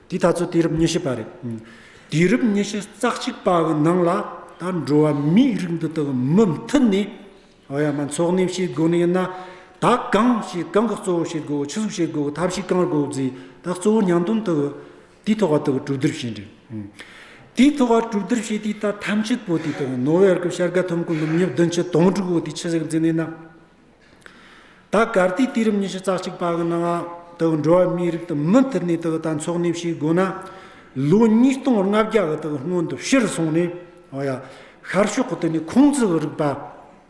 དེ་ད་ཚོད་དུས་རབས་ཉི་ཤུ་པ་རེད། དུས་རབས་ཉི་ཤུ་རྩ་གཅིག་པ་གི་ནང་ལ་ད་འགྲོ་བ་མིའི་རིགས་འདི་དག་མུ་མཐུད་ནས། ཨོ་ཡ་མ་འཚོགས་གནས་བྱེད་དགོས་ནི་ཡིན་ན། ད་གང་བྱེད་གང་གི་གཙོ་བོ་བྱེད་དགོས་ཕྱི་གཟུགས་བྱེད་དགོས་ཐབས་ཤེས་གང་དགོས་རྫས་ད་གཙོ་བོ་ཉང་སྟོན་དུ། དུས་ཐོག་བ་དག་གྲུབ་བསྡུར་བྱས་འདྲི། དུས་ཐོག་བ་གྲུབ་བསྡུར་བྱས་དུས་ད་ཐམས་ཅད་པོ་དུས་ཐོག་ནོ་བྷེལ་གི་བྱ་དགའ་ཐོབ་མཁན་ནུབ་ཉི་བདུན་ཅུ་དོང་དྲུག་བོ་དུས་ཕྱི་གཟུགས་འཛིན་ནི་ན། ད་གར་དུས་དུས་རབས་ཉི་ཤུ་རྩ་གཅིག་པ་གི་ནང་དུ་འགྲོ་བ་མིའི་རིགས་དུ་མུ་མཐུད་ནས་དང་འཚོགས་ནས་ཞེས་བསྒོ་ན། ལོ་ཉིས་སྟོང་ལྔ་བརྒྱ་གི་སྔོན་དུ་ཕྱིར་སོང་ནས། ཤར་ཕྱོགས་ཀྱི་དུས་ནས་ཁུངས་བཙུན་རིག་པ།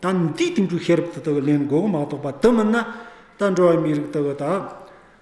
ད་འདིའི་དུས་འགྲོའི་ཤེས་རབ་དེ་དག་ལས་འགོག་མ་གཏོགས་པ་དུ་མིན་ན། ད་འགྲོ་བ་མིའི་རིགས་དེ་དག།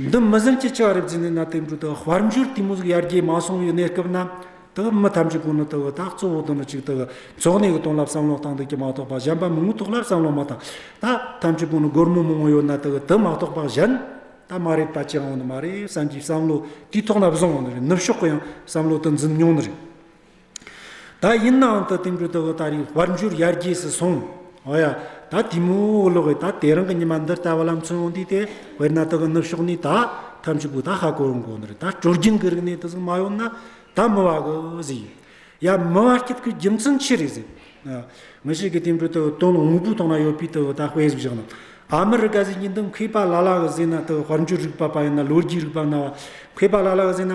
འདི་མི་ཟིན་གྱི་ཆགས་རིག་འཛིན་ནས་ན་དེ་འབྲུ་དག་དཔལ་འབྱོར་དུས་མུ་ཟུག་ཡར་རྒྱས་མ་སོང་བའི་གནས་སྐབས་ན་དེ་མི་ཐམས་ཅད་དགུང་ལོ་དེ་བས་ད་གཙོ་བོ་དུ་ནི་གཅིག་དེ་འཚོགས་གནས་ཀྱི་དོན་ལ་བསམ་བློ་བཏང་འདུག་ཀྱི་མ་གཏོགས་པ་གཞན་པ་མིང་ཐོག་ལ་བསམ་བློ་མ་བཏང་ད་ཐམས་ཅད་དགུང་ལོ་སྒོར་མོ་མང་བོ་ཡོད་ན་དེ་དེ་མ་གཏོགས་པ་གཞན་ད་མ་རེད་པ་ཅི་ཡང་འོང་ནི་མ་རེད་བསམ་གྱི་བསམ་བློ་དུས་ཐོག་ལ་བཟུང་འོང་ནི་རེད་ནུབ་ཕྱོགས་ཀྱི་ཡང་བསམ་བློ་དེ་འཛིན་མྱོང་ནི་རེད། ད་ཡིན་ནའང་ད་དུང་གྲུ་དེ་འོ་ད་རི་བར་འགྱུར་ཡར་རྒྱས་སུ་སོང། འོ་ཡ། ད་དེ་མུའུ་འོ་ལོག་གི་ད་དེ་རང་གི་ཉི་མ་འདིར་ལྟ་བ་ལམ་ཚོན་འོང་དུས་དེ་བས་ན་ད་གི་ནུབ་ཕྱོགས་ནས་ད་ཐམས་ཅད་པོ་ད་ཧ་གོ་འོང་གོ་ནི་རེད་ད་སྤྲོ་རྒྱུན་གི་རིག་གནས་དེ་ཟིག་མ་ཡོང་ན་ད་མི་བ་གི་ཟིག་ཡོད། ཡ། མི་བ་སྐྱིད་གི་རྒྱུ་མཚན་ཆི་རེད་ཟེར། མི་ཞིག་གིས་དེ་གྲུ་དེ་འོ་དོན་དངོས་པོའི་ཐོག་ན་ཡོད་པའི་དེ་འོ་ད་དཔེ་ཟིག་བཞག་ན། ཨ་མི་རི་ཀ་ཟིག་ཡིན་དུས་མཁས་པ་ལ་ལ་གི་ཟེར་ན་དེ་འོ་དཔལ་འབྱོར་རིག་པ་པ་ཡིན་ན་ལོ་རྒྱུས་རིག་པ་ན་བ་མཁས་པ་ལ་ལ་གི་ཟེར་ན།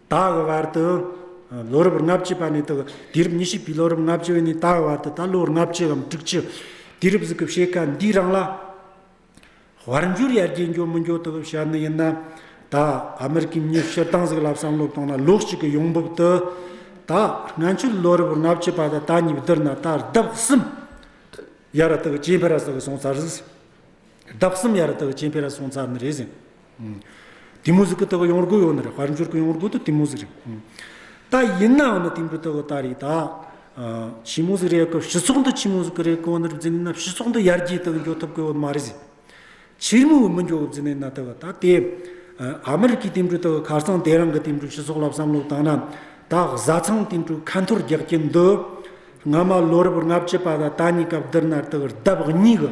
ད་གི་བར་དུ་ལོ་རབས་ལྔ་བཅུ་པ་ནས་དག་དུས་རབས་ཉི་ཤུ་པའི་ལོ་རབས་ལྔ་བཅུ་བའི་ནས་ད་གི་བར་དུ་ད་ལོ་ལྔ་བཅུ་འམ་དྲུག་བཅུ་དུས་རབས་གཟུགས་ཀྱི་ཕྱེད་ཀ་འདིའི་རིང་ལ། དབར་འགྱུར་ཡར་རྒྱས་མགྱོགས་མི་མགྱོགས་དག་བྱ་ནི་ཡིན་ན། ད་ཨ་མི་རི་ཀའི་མྱི་ཤི་སྟངས་གཟུགས་ལ་བསམ་བློ་བཏང་ན་ལོ་གཅིག་གི་ཡོང་འབབ་དུ། ད་སྔ་ཆུ་ལོ་རབས་ལྔ་བཅུ་པ་དང་ད་གཉིས་བསྡུར་ན་ད་ལྡབ་གསུམ་ཡར་དག་བྱེད་འཕེལ་ར་སོགས་སོང་ཚར། ལྡབ་གསུམ་ཡར་དག་བྱེད་འཕེལ་ར་སོང་ཚར་ནི་རེད་ཟིན། དེ་མོ་ཟིག་གི་ལྟ་བུ་ཡོངས་རྒོད་ཡོད་ནི་རེད་དཔལ་འབྱོར་གྱི་ཡོངས་རྒོད་དུ་དེ་མོ་ཟིག་རེད། ད་ཡིན་ནའང་ནི་དེ་མོ་ལྟ་བུ་ད་རེད་ད། ཕྱི་མོ་ཟིག་རེད་སྐབས་སྤྱི་ཚོགས་འདི་ཕྱི་མོ་ཟིག་གི་རེད་གོ་ནི་རུ་འཛིན་ནི་ན་སྤྱི་ཚོགས་འདི་ཡར་རྒྱས་དང་མགྱོགས་ཐུབ་གི་ཡོད་མ་རེད་ཟིག། ཕྱིར་མོ་འི་མི་མགྱོགས་འཛིན་ནི་ན་ལྟ་བུ་ད་དེ། ཨ་མི་རི་ཀའི་དེ་མོ་ལྟ་བུ་ཁར་ཚང་དེ་རང་གི་དེ་མོ་སྤྱི་ཚོགས་ལ་བསམ་བློ་བཏང་ན། ད་བཟའ་ཚང་དེ་མོ་ཁ་འཐོར་རྒྱག་གྱིན་འདུག་སྔ་མ་ལོ་རབས་ལྔ་བཅུ་པ་ད་ད་གཉིས་སྐབས་འདིར་ན་ལྟ་བུར་ལྡབ་གཉིས་གི།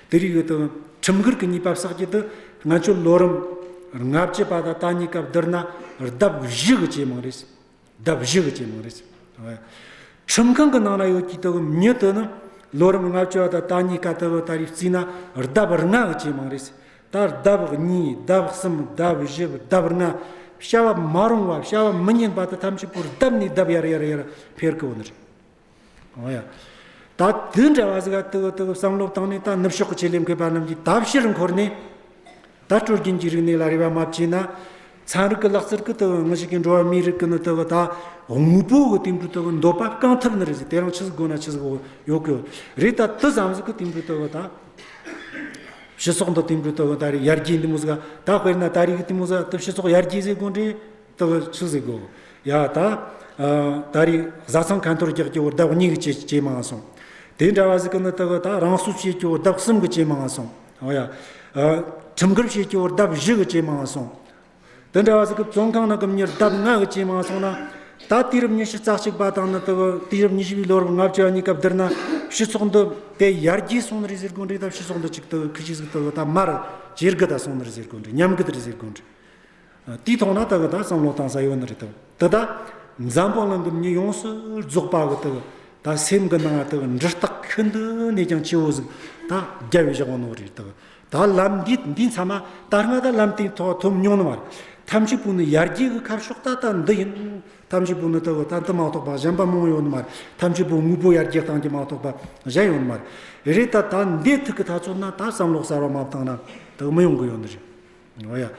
དེ་རིང་ཡོད་དོ། ཁྲིམས་འགལ་གྱི་ཉེས་པ་བསགས་རྗེས་དུ་ང་ཚོས་ལོ་རིམ་ལྔ་བཅད་པ་དང་དང་གཉིས་སྐབས་བསྡུར་ན་ལྡབ་བཞི་གི་ཇེ་མང་རེད། ལྡབ་བཞི་གི་ཇེ་མང་རེད། ཁྲིམས་ཁང་གི་ནང་ན་ཡོད་ཀྱི་དོན་ཉིད་དུ་ནི་ལོ་རིམ་ལྔ་བཅད་པ་དང་དང་གཉིས་སྐབས་དེ་ལོ་ལྟར་རིགས་བརྩིས་ན་ལྡབ་ལྔ་གི་ཇེ་མང་རེད། ད་ལྡབ་གཉིས་ལྡབ་གསུམ་ལྡབ་བཞི་ལྡབ་ལྔ། བྱ་བ་མ་རུང་བ་བྱ་བ་མི་ཉན་པ་དང་ཐམས་ཅད་པོར་ལྡབ་ནས་ལྡབ་ཡར་ཡར་ཡར་འཕེལ་གི་འོང་རེད། ད་དུས་འདྲ་བ་ཟིག་ག་ཏུ་གུ་ཏུ་གུ་བསམ་བློ་བཏང་ནས་ད་ནུབ་ཕྱོགས་ཀྱི་ཆེད་ལས་མཁས་པ་རྣམས་ཀྱིས་ད་ཕྱིར་འཁོར་ནས། ད་སྤྲོ་རྒྱུན་གྱི་རིག་གནས་ལ་རེ་བ་མ་བྱས་ན། ཚན་རིག་གི་ལག་རྩལ་གུ་ཏུ་གུ་ངུ་ཞིག་གིས་འགྲོ་བ་མིའི་རིགས་ཀུན་ནི་ཏུ་གུ་ད་དངོས་པོ་གི་དེང་དུས་ཏུ་གུ་འདོད་པ་བསྐང་ཐབས་ནི་རེད་ཟེར་དེ་རང་ཆི་ཟིག་དགོས་ན་ཆི་ཟིག་ཡོད་གི་རེད་ད་དུས་བསམ་ཟིག་གུ་དེང་དུས་ཏུ་གུ་ད། ཕྱི་སོག་འདི་དེང་དུས་ཏུ་གུ་ད་རེ་ཡར་རྒྱས་འདི་མོ་ཟིག་ག་ད་དཔེར་ན་ད་རིག་གི་དེ་མོ་ཟིག་ག་ཏུ་ཕྱི་སོག་ཡར་རྒྱས་ཟེར་དགོས་འདྲེ། སྟག་གི་ཆུ་ཟིག་གོ། ཡ། ད། ད་རེས་གཟའ་ཚང་གན་ཐོར་རྒྱག་ཀྱོའོ་བདག་གཉིས་ཀྱི་སྐྱེས་མ་སོང། དེ་འདྲ་བ་ཟིག་གི་ནི་སྟག་གི་ད་རང་སུ་སྐྱེས་ཀྱོའོ་བདག་གསུམ་གྱི་སྐྱེས་མ་སོང། ཨོ་ཡ། ཁྲིམས་འགལ་བྱེད་ཀྱོའོ་བདག་བཞི་གི་སྐྱེས་མ་སོང། དེ་འདྲ་བ་ཟིག་གི་བཙོན་ཁང་ན་གི་མྱུར་བདག་ལྔ་གི་སྐྱེས་མ་སོང་ན། ད་དུས་རབས་ཉི་ཤུ་རྩ་གཅིག་པ་དང་ནི་སྟག་གི་དུས་རབས་ཉི་ཤུ་པའི་ལོ་རབས་ལྔ་བཅུ་བ་གཉིས་སྐབས་དེར་ན་ཕྱི་ཚོགས་འདི་དེ་ཡར་རྒྱས་སོང་ནི་རེད་ཟེར་དགོས་འདྲི་ད་ཕྱི་ཚོགས་འདི་གཅིག་སྟག་གི་ཁུ་བྱུག་ཟིག་སྟག་གི་ད་མར་ཇེ་རྒུད་ད་སོང་ནི་རེད་ཟེར་དགོས་འདྲི་ཉམས་རྒུད་རེད་ཟེར་དགོས་འདྲི། དེས་མཐོང་ན་དག་གི་དག་བསམ་བློ་བཏང་ས་ཡོད་ནི་རེད་དོ། འདི་དག་འཛམ་བུ་གླིང་གི་མི་ཡོངས་སུ་རྫོགས་པ་གི་དག་དག་སེམས་ཀྱི་ནང་དག་འདྲི་རྟགས་ཁྱོད་འདི་ནས་ཀྱང་ཁྱེའུ་གཟུགས་དག་རྒྱལ་བའི་ཞག་ནོར་རེད་དོ། དག་ལམ་འདི་འདི་མཚམས་མ་དར་སྔ་དག་ལམ་སྟེང་ཐོག་ཐུབ་མྱོང་ནི་མ་རེད། ཐམས་ཅད་པོ་ནི་ཡར་རྒྱས་གི་ཁར་ཤོག་དག་དག་འདི་ཡིན། ཐམས་ཅད་པོ་ནི་དག་དག་འདི་མ་གཏོགས་པ་གཞན་པ་མང་ཡོད་ནི་མ་རེད། ཐམས་ཅད་པོ་དངོས་པོ་ཡར་རྒྱས་བཏང་རྒྱུ་མ་གཏོགས་པ་གཞན་ཡོད་ནི་མ་རེད། རེད་ད་དག་འདི་ཐུག་གི་ད་ཚོད་ན་དག་བསམ་བློ་གསར་བ་མ་བཏང་ན་དག་མི་ཡོང་གི་ཡོད་ནི་རེད། ཡང་ཡང་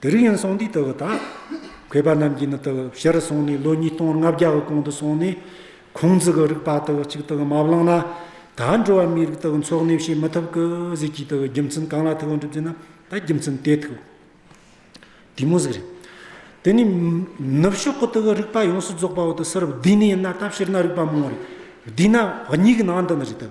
དུ་རིག་ཡང་སོང་དུས་དུ་བ་དག་གོས་པ་རྣམས་ཀྱིས་ནི་དུ་བ་ཕྱིར་སོང་ནས་ལོ་ཉིས་སྟོང་ལྔ་བརྒྱ་གི་གོང་དུ་སོང་ནས་ཁོང་ཙི་གི་རིག་པ་དུ་བ་གཅིག་དུ་མ་བླངས་ན་ད་འགྲོ་བ་མིའི་རིགས་དུ་བ་འཚོགས་གནས་བྱེད་མི་ཐུབ་ཀི་ཟིག་གིས་དུ་བའི་རྒྱུ་མཚན་གང་ལ་ཐུག་གོ་འགྲུབ་ཅེ་ན་ད་རྒྱུ་མཚན་དེ་ཐུག་དེ་མོ་ཟིག་རེད། དེ་ནས་ནུབ་ཕྱོགས་ཀྱི་དུ་བའི་རིག་པ་ཡོངས་སུ་རྫོགས་པའོ་དུ་སེར་བསྡུས་ནས་ཡིན་ན་ད་ཕྱིར་ན་རིག་པ་མང་བོ་རེད་བསྡུས་ན་བ་གཉིས་ཀྱི་ནང་དུ་ནི་རེད་དུ།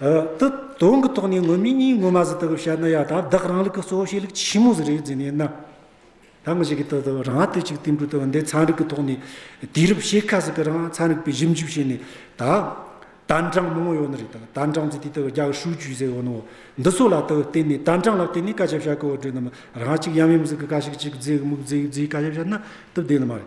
ཏུ། དོན་གྱི་ཐོག་ནས་དངོས་མིང་གཉིས་ངོ་མ་ཟིན་ཐུབ་པའི་བཤད་ན་ཡག་དང་བདག་རང་ལུགས་ཀྱི་གཙོ་བོ་བཤད་ལུགས་ཆེན་མོ་ཟིན་རེད་ཟེར་ནས་ན། ད་ངོ་ཤེས་ཀྱི་ཐོག་ཏུ་རང་ལྟོས་ཅིག་བསྟན་འགྲོ་ཐུབ་བ་འདི་ཚན་རིག་གི་ཐོག་ནས་དུས་རབས་ཕྱེད་ཀ་ཟིག་གི་རང་ཚན་རིག་པའི་ཞིབ་འཇུག་བྱས་ནས་ད། དན་ཀྲང་མང་བོ་ཡོད་ནི་རེད་ད། དན་ཀྲང་ཚོས་དུས་ལྟར་རྒྱ་གར་ཧྲུའུ་ཅུའི་ཟེར་བ་ནོ། འདི་ཚོ་ལ་ཏུ་བརྟེན་ནས་དན་ཀྲང་ལ་བརྟེན་ནས་བཀའ་ཁྱབ་བྱ་དགོས་བ་བྲོས་ནི་མ་རང་གཅིག་ཡམ་ཡོམ་ཟིག་གི་བཀའ་ཤིག་ཅིག་རྫིག་མུག་རྫིག་རྫིག་བཀའ་ཁྱབ་བྱ་ན་ཏུ་བདེ་ནི་མ་རེད།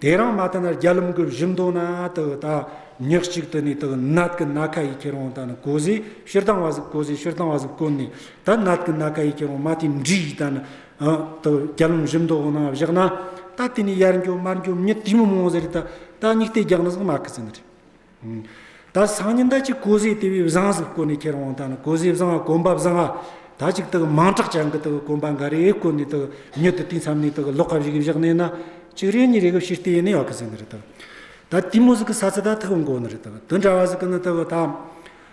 དེ་རང་མ་བལྟ་ན་རྒྱ་ལུམ་གྱི་བཞི་མདོ་ན་དུ་ད་ཉག་གཅིག་དུ་ནས་དུ་ནད་ཀྱི་ན་ཁ་ཡི་ཁྱེར་བོང་ད་ནི་གོ་ཟེ་ཕྱིར་བཏང་བ་གཟིགས་གོ་ཟེ་ཕྱིར་བཏང་བ་གཟིགས་གོ་ནི་ད་ནད་ཀྱི་ན་ཁ་ཡི་ཁྱེར་བོང་མ་དེའི་འདྲི་ཡིས་ད་ནི་དུ་རྒྱ་ལུམ་བཞི་མདོ་བོང་ན་བཞག་ན་ད་དེ་ནས་ཡར་འགྱོ་མར་འགྱོ་མྱི་དེ་མི་མོང་ཟེ་རེ་ད་ད་སྙིགས་ལྟས་རྒྱག་ན་གཟིགས་མ་ཁི་ཟེ་ནི་རེ། དར་སང་ཉིན་ད་ཅི་ཀོ་ཟེ་དེ་བས་བཟང་ཟིག་བཀོད་ནས་ཁྱེར་འོང་ད་ནི་ཀོ་ཟེ་བཟང་ང་གོམ་པ་བཟང་ང་ད་ཅིག་དག་མང་དྲག་ཅང་གི་དག་གོམ་པ་འགའ་རེ་བཀོད་ནས་དག་མྱུར་དུ་དུས་མཚམས་ནས་དག་ལོག་ཁ་བཞི་གི་བཞག་ནས་ན་ཅིག་རེ་གཉིས་རེ་གི་བཞི་ལྟེ་ཡེ་ནས་ཡོག་གི་ཟིན་གི་རེད་དག་ད་དེ་མོ་ཟིག་གི་ས་ཚིག་ད་ཐག་གི་མགོ་ནི་རེད་དག་དུ་འདྲ་བ་ཟིག་གི་ནི་དག་ད།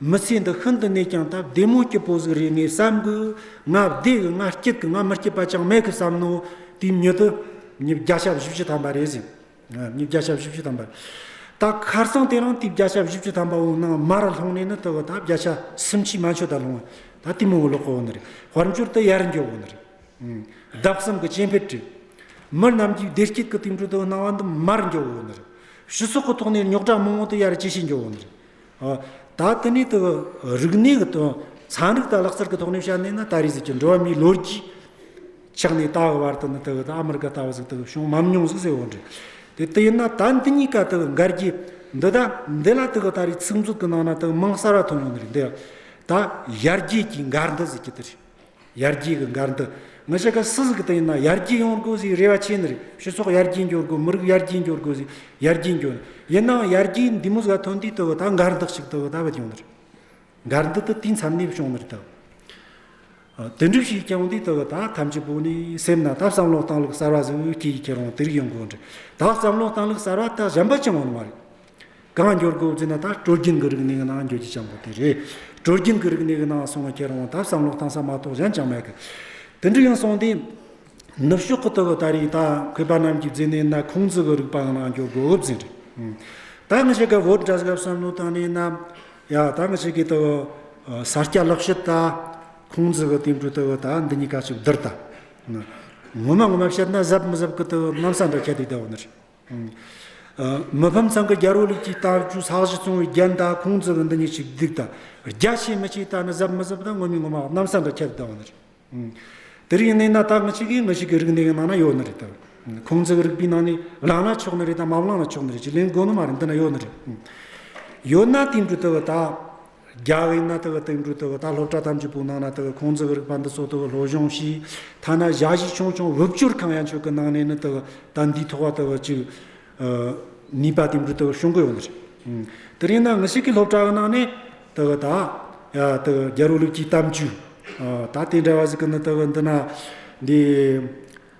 མི་ཚེ་འདི་ཤིན་ཏུ་གནས་ཀྱང་སྟབས་བདེ་མོ་སྐྱིད་པོ་ཟིག་རེད་ངས་བསམ་གི། ང་བདེ་གི་ང་སྐྱིད་གི་ང་མི་སྐྱིད་པ་ཅང་མེད་གི་བསམ་ནོ། དེའི་མྱུར་དུ། ཉིས་བརྒྱ་ཆ་བཞི་བཅུ་ཐམ་པ་རེད་ཟིག། ཉིས་བརྒྱ་ཆ་བཞི་བཅུ་ཐམ་པ། ད་ཁར་སང་དེ་རིང་དུས་བརྒྱ་ཆ་བཞི་བཅུ་ཐམ་པ་འོང་ན་མར་ལྷུང་ནས་ནི་དེ་བ་ད་བརྒྱ་ཆ་སུམ་ཅུའི་མ་འཆོལ་ད་ལྷུང། ད་ལྟོས་མོ་ལོག་གི་འོང་ནི་རེད། དཔལ་འབྱོར་དུ་ཡར་འགྱོག་འོང་ནི་རེད། བདག་བསམ་གི་སྐྱེ་འཕེལ་བྲིས། མི་རྣམས་ཀྱིས་བདེ་སྐྱིད་ཀི་དུས་འགྲོ་དུ་སྣང་བ་འདི་མར་འགྱོག་འོང་ནི་རེད། ཕྱི་སོག་གི་ཐོག་ནས་རྙོག་དྲ་མང་བོ་དུ་ཡར་ཇེ་ཆེ་འགྱོག་འོང་ནི་རེད། ད་ལྟ་གནས་དུ་རིག་གནས་ཀྱི་དོན་ཚན་རིག་དང་ལག་རྩལ་གྱི་ཐོག་ནས་བཤད་ནས་ན་ད་རེས་གཟིགས་ཀྱི་འགྲོ་བ་མིའི་ལོ་རྒྱུས་ཆགས་ནས་ད་བར་དུ་ནི་དུ་ཨ་མི་རི་ཀ་ལྟ་བུ་ཟིག་དུ་བྱུང་མམ་མྱོང་ཟིག་ཟེར་བ་འདྲ། དེ་དེ་ཡིན་ན་ད་འདི་གཉིས་ཀ་དུ་འགལ་གྱི་འདུག་ད་འདི་ལ་དུ་ད་རེས་ཚིག་མཛོད་ཀྱི་ནང་ན་དུ་མིང་གསར་བ་ཐོན་ཡོང་གི་རེད་འདི་ད་ཡར་རྒྱས་ཀྱི་འགལ་འདུ་ཟེར་གྱི་དུ་རེད། ཡར་རྒྱས་ཀྱི་འགལ་འདུ་མི་བྱེད་དགོས་སུ་ཟིག་དེས་ན་ཡར་རྒྱས་ཡོང་དགོས་ཟིག་རེ་བ་ཆེ་ནི་རེད་ཕྱི་ཚོགས་ཡར་རྒྱས་འགྱུར་དགོས་མི་རིགས་ཡར་རྒྱས་འགྱུར་དགོས་ཟིག་ཡར་རྒྱས་འགྱུར་ཡིན་ནའང་ཡར་རྒྱས་འདི་མུ་ཟ་ཐོན་དུས་དུ་བུ་ད་འགལ་འདུ་ཞིག་དུ་བུ་ད་བུ་བྱུང་ནི་རེད་འགལ་འདུ་དུ་དུས་མཚམས་ནས་བྱུང་ནི་རེད་དུ་དུ་འགྲུབ་ཞིག་བྱུང་དུས་དུ་བུ་ད་ཐམས་ཅད་པོ་ནི་སེམས་ན་ད་བསམ་བློ་བཏང་ལུགས་གསར་བ་ཟིག་སྐྱེས་ཀྱི་རུང་དུར་ཡོང་དགོས་ནི་རེད་ད་བསམ་བློ་བཏང་ལུགས་གསར་བ་དག་གཞན་པ་ཅང་འོང་བ་རེད་གང་འགྱུར་དགུ་བརྩིས་ན་ད་དཀྲོལ་རྒྱུན་གྱི་རིག་གནས་ཀྱི་ནང་འགྱུར་གྱི་བྱ་འགུལ་དེ་རེད། དཀྲོལ་རྒྱུན་གྱི་རིག་གནས་ཀྱི་ནང་སོང་བ་ཁྱེད་རང་ལ་ད་བསམ་བློ་བཏང་ས་མ་གཏོགས་གཞན་ཅང་མེད་གི། དེ་འདྲ་ཡང་སོང་སྟེ། ནུབ་ཕྱོགས་ཁུལ་དུ་གི་ད་རེས་ད་གུས་པ་རྣམས་ཀྱིས་བརྩིས་ནས་ན་ཁུང་ཙི་གི་རིག་པ་ཡང་ནང་འགྱུར་དགུ་བརྩིས་རེད། ད་ང་ཞིག་གི་བོད་དྲ་ཞིག་ལ་བསམ་བློ་བཏང་ནས་ན། ཡ་ད་ང་ཞིག་གིས་ད་གི་ས་སྐྱ་ལག་ཤེས་ད། ཁུང་ཙི་གི་བསྟན་འགྲོའི་ད་གི་ད་འདི་གཉིས་ཀ་གཅིག་བསྡུར་ད། ངོ་མ་ངོ་མ་བཤད་ན་གཟབ་མི་གཟབ་གི་ད་གི་གནམ་ས་འདྲ་ཁྱད་དུ་བསྡད་བ་ནི་རེད། མི་ཕམ་ཚང་གི་རྒྱ་རོ་ལིག་ཅིག་བཏགས་རྒྱུ་ཚགས་གཞི་བཙོང་བའི་རྒྱན་དག་ཁུང་ཙི་བུ་འདི་གཉིས་ཞིག་བརྡིགས་དང་རྒྱ་ཆེ་མི་ཆེའི་རྟགས་ནི་གཟབ་མི་གཟབ་དང་ངོ་མི་ངོ་མ་འོག་གནམ་ས་འདྲ་ཁྱད་དུ་བསྡང་བ་ནི་རེད། དེ་རིང་གནས་ན་ད་ངུ་ཆེ་གེ་ངུ་ཞིག་གི་རིགས་འདི་ཡི་ནང་ན་ཡོད་ནི་རེད་དམ། ཁུང་ཙི་བུ་རིག་པའི་ནང་ནས་བླངས་ན་ཆོག་ནི་རེད་དམ་མ་བླངས་ན་ཆོག་ནི་རེད་ཅེས་ལན་དགོས་ནི་མ་རེད་འདི་ན་ཡོད་ནི་རེད། ཡོད་ན་དེ་འབྲུ་དེ་བུ་དག། རྒྱ་བས་ན་དེ་བས་སྟེང་འགྲོ་དེ་བས་ད་སློབ་གྲྭ་ཐམས་ཅད་པུ་ནང་ན་དེ་བས་ཁོང་ཙི་བས་རིག་པ་འདི་ཚོ་དེ་བས་ལོ་གཞོན་ཞིག་ཐ་ན་བཞག་གཞི་ཆུང་ཆུང་དབུལ་སྐྱོར་གང་ཡང་ཆོག་གི་ནང་ནས་ནི་དེ་བས་ད་འདིའི་ཐོག་བ་དེ་བས་ཅིག་ནུས་པ་དེ་འདྲུ་དེ་བས་ཤོང་གི་ཡོད་མ་རེད། དེ་རིང་ན་ངི་ཞིག་གི་སློབ་གྲྭ་གི་ནང་ནས་དེ་བས་ད་དེ་བས་རྒྱལ་རོ་ལུགས་ཀྱི་གཏམ་རྒྱུད་ད་དེ་འདྲ་བ་ཞིག་གི་ནི་དེ་བས་འདི་ན་འདི།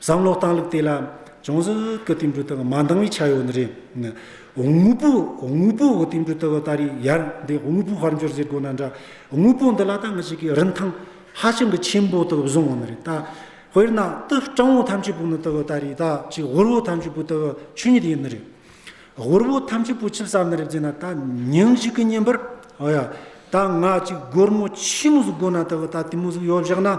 བསམ་བློ་བཏང་ལུགས་དེ་ལ་ཅུང་ཟད་སྐུ་དེ་འབྲུ་དག་མ་འདང་བའི་ཆ་ཡོད་ནི་རེད། དངོས་པོ་དངོས་པོ་དེ་འབྲུ་དག་ལྟ་རེ་ཡར་འདི་དངོས་པོ་བར་འགྱུར་ཟེར་དགོས་ན་འདྲ། དངོས་པོ་འདི་ལ་ད་ངེད་ཅིག་གིས་རིན་ཐང་ཧ་ཅང་གི་ཆེན་པོ་དག་བཟུང་བ་ནི་རེད། དཔེར་ན་དུད་སྤྲང་བོ་ཐམས་ཅད་པོ་ནི་དག་ད་རེ་ད་ཅིག་ཧོར་བོ་ཐམས་ཅད་པོ་དག་ཆོས་ཉིད་ཡིན་ནི་རེད། ཧོར་བོ་ཐམས་ཅད་པོ་ཆིབས་བསགས་ནི་རེད་ཅེ་ན་ད་ཉིན་ཞིག་གི་ཉིན་པར་ད་ང་ཅིག་སྒོར་མོ་ཆི་མོ་ཟིག་དགོས་ན་དག་ད་དེ་མོ་ཟིག་ཡོད་བཞག་ན།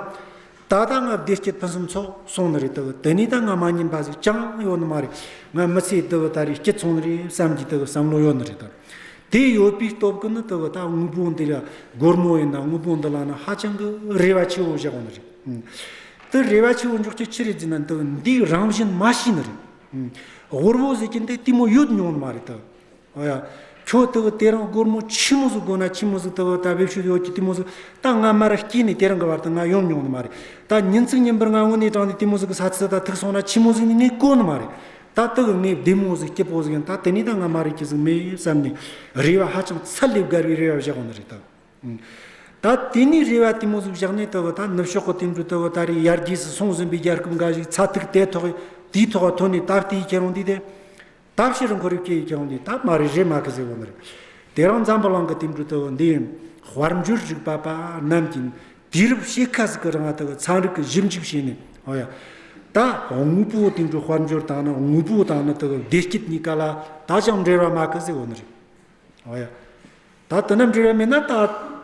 ད་ལྟ་ང་བདེ་སྐྱིད་ཕུན་སུམ་ཚོགས་སོང་ནི་རེད་དེ་ནས་ད་ང་མ་ཉན་པ་ཞིག་ཅང་ཡོད་ནི་མ་རེད་ང་མི་ཚེ་དེ་ད་རེས་སྐྱིད་ཚོང་ནི་རེད་བསམ་གྱི་དེ་བསམ་བློ་ཡོད་ནི་རེད་དེ་ཡོད་པའི་སྟོབས་ཀྱི་ནི་དེ་ད་དངོས་པོ་འདི་ལ་སྒོར་མོ་ཡིན་ན་དངོས་པོ་འདི་ལ་ནི་ཧ་ཅང་གི་རེ་བ་ཆེ་བོ་བཞག་པ་ནི་རེད་དེ་རེ་བ་ཆེ་བོ་འཇོག་ཆེད་ཅི་རེད་ཅེ་ན་འདི་འདིའི་རང་བཞིན་མ་ཤེས་ནི་རེད་ཧོར་བོ་ཟེར་གྱི་འདི་ལྟད་མོ་ཡོད་མྱོང་ནི་མ་རེད་དེ། ཨོ་ཡ། ཁྱོད་ལྟ་བུ་དེ་རང་སྒོར་མོ་ཆི་མོ་ཟུག་དགོས་ན་ཆི་མོ་ཟུག་ལྟ་བུ་ད་བེད་ཤུལ་ཡོད་ཀྱི་ཏི་མོ་ཟུག་ད་ང་མར་སྐྱིད་ནས་དེ་རང་གི་བར་དུ་ང་ཡོང་མྱོང་ནི་མ་རེད་ད་ཉིན་ཚིག་ཉིན་པར་ང་དངོས་གནས་དྲང་ནས་ཏི་མོ་ཟུག་གི་ས་ཚིག་ད་ཐུག་སོང་ན་ཆི་མོ་ཟུག་ནི་ངའི་བཀོད་ནི་མ་རེད་ད་ལྟ་བུ་ངའི་བདེ་མོ་ཟུག་སྐྱིད་པོ་ཟུག་ཡིན་ད་དེ་ནས་ད་ང་མ་རེད་ཀྱི་ཟུག་མེད་བསམ་ནས་རེ་བ་ཧ་ཅང་ཚད་ལས་བརྒལ་བའི་རེ་བ་བཞག་ནི་རེད་ད། ད་དེ་ནས་རེ་བ་ཏི་མོ་ཟུག་བཞག་ནས་ལྟ་བུ་ད་ནུབ་ཕྱོགས་ཀྱི་དེང་དུས་ལྟ་བུ་ད་རེས་ཡར་རྒྱས་སུ་སོང་ཟིན་པའི་རྒྱལ་ཁབ་འགའ་ཞིག་ཚ་ཐིག་དེ་ཐོག་དེའི་ཐོག་ཐོན་ནས་ད་ལྟའི་ཁྱེད་རང་འདི་དེ་ད་ཕྱིར་མགོ་རིག་ཅེས་ཀྱང་ནི་ད་མ་རེ་རེ་མ་གི་ཟེར་བ་མི་རེད། དེ་རང་འཛམ་བུ་གླང་གི་དེམ་དྲུག་ཏུ་འདི་ཡིན། དབར་འགྱུར་རིག་པ་པ་རྣམས་ཀྱིས་ནི། དུས་རབས་ཕྱེད་ཀ་ཟིག་གི་རིང་ལ་དེ་གི་ཚངས་རིག་གི་ཞིབ་འཇུག་བྱས་ནས། ཨོ་ཡ། ད་དངོས་པོའི་དེམ་དྲུག་དབར་འགྱུར་དང་ནི་དངོས་པོ་དང་ནི་དེ་གི་བདེ་སྐྱིད་གཉིས་ཀ་ལ་ད་ཅང་འབྲེལ་བ་མ་གི་ཟེར་བ་མི་རེད། ཨོ་ཡ། ད་དེ་རྣམས་འབྲེལ་བ་མེད་ན་ད་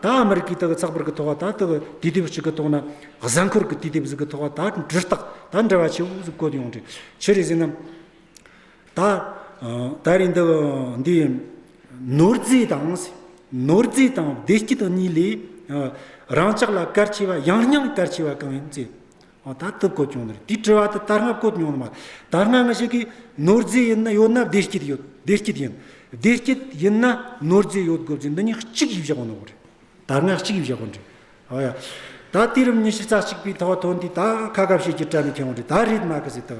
ད་ཨ་མི་རི་ཀའི་དེ་གི་ཚགས་པར་གི་ཐོག་ལ་ད་དེ་གི་དུས་དེབ་ཅིག་གི་ཐོག་ན་གཟའ་འཁོར་གི་དུས་དེབ་ཟིག་གི་ཐོག་ལ་ད་འབྲི་སྟགས་ད་འབྲི་བ་ཆེ་བོ་ཟིག་བཀོད་ཡོང་དུས་ཆི་རེ་ཟིན་ནམ། ད་ད་རེས་འདི་འདི་ནོར་རྫས་དང། ནོར་རྫས་དང་བདེ་སྐྱིད་དང་གཉིས་ལས། རང་ཅག་ལ་གལ་ཆེ་བ་ཡང་སྙིང་གལ་ཆེ་བ་གང་ཡིན་བཙལ། ད་ལྟ་བཀོད་བྱུང་ནི་དེ་དྲི་བ་དེ་དར་སྔ་བཀོད་མྱོང་ནི་མ་དར་སྔ་ང་ཞིག་གིས་ནོར་རྫས་ཡིན་ན་ཡོད་ན་བདེ་སྐྱིད་ཡོད་བདེ་སྐྱིད་ཡིན་བདེ་སྐྱིད་ཡིན་ན་ནོར་རྫས་ཡོད་དགོས་རྒྱུ་འདི་གཉིས་གཅིག་ཡིན་བཞག་གོ་ནོར་དར་སྔ་གཅིག་ཡིན་བཞག་གོ་འདྲི་ཨོ་ཡ། ད་དེ་རིམ་གཉིས་ཤི་རྩ་གཅིག་པའི་ཐོག་ཐོན་དུས་ད་ཁ་ཁ་བྱེད་ཀྱི་བྲལ་ནས་ཁྱེད་ངོ་འདྲི་ད་རེད་མ་གི་ཟེར་ཐག་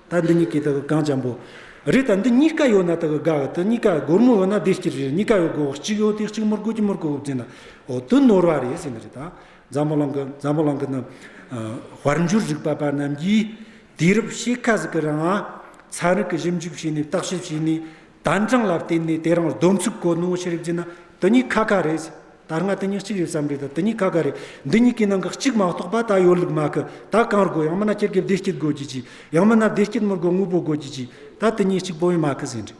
ད་འདི་གཉིས་ཀའི་དག་གང་འཇམ་པོ། རེད་ད་འདི་གཉིས་ཀ་ཡོད་ན་དག་དགའ་གི་དེ་གཉིས་ཀ་སྒོར་མོ་ཡོད་ན་བདེ་སྐྱིད་རེད་གཉིས་ཀ་ཡོད་སྒོར་གཅིག་ཡོད་དེ་གཅིག་མོར་བཀོད་གཅིག་མོར་བཀོད་བརྒྱུད་ན་འོ་དོད་ནོར་བ་རེད་ཟེར་ནི་རེད་ད། འཇམ་པོ་ལང་གི་འཇམ་པོ་ལང་གི་ནི། དཔལ་འབྱོར་རིག་པ་པ་རྣམས་ཀྱིས་དུས་རབས་ཕྱེད་ཀ་ཟིག་གི་རིང་ལ་ཚན་རིག་གི་ཞིབ་འཇུག་བྱས་ནས་བརྟག་ཞིབ་བྱས་ནས། དན་གྲངས་ལ་བརྟེན་ནས་དེ་རང་སྡོམ་ཚིག་གོ་ནོ་ཞེས་རིག་བགྱིས་ན་དེ་གཉིས་ཁ་ཁ་རེད། དར་སྔ་དེ་གཉིས་གཅིག་རེད་བསམ་རེད་ད་དེ་གཉིས་ཁ་ཁ་རེད། འདི་གཉིས་ཀའི་ནང་གི་གཅིག་མ་གཏོགས་པ་ད་ཡོད་ལུགས་མ་ཁུ་ད་གང་རུ་དགོས་ཡང་མིན་ན་སྤྱིར་གྱི་བདེ་སྐྱིད་དགོས་བགྱིད་ཅིག་ཡང་མིན་ན་བདེ་སྐྱིད་མི་དགོས་དངོས་པོ་དགོས་བགྱིད་ཅིག་ད་དེ་གཉིས་གཅིག་པོ་ཡང་མ་ཁུ་ཟེར་འདྲི།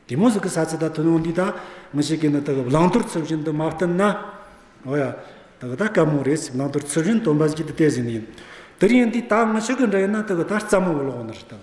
དེ་མོ་ཟིག་གི་ས་ཚིག་ད་ཐུན་མོང་འདི་ད་ངི་ཞིག་གིས་ནི་དག་བླང་དོར་ཚུལ་བཞིན་དུ་མ་བསྟུན་ན། འོ་ཡ། དག་ད་དཀའ་མོ་རེད་ཟིག་བླང་དོར་ཚུལ་བཞིན་སྟོན་པ་ཟིག་གིས་དེ་བལྟས་ཟིན་ཡིན། དེར་ཡིན་དུས་ད་ངི་ཞིག་གི་འདྲ་ཡིན་ན་དག་ད་རྩ་མོ་བོ་ལོག་ནི་རེད་དམ།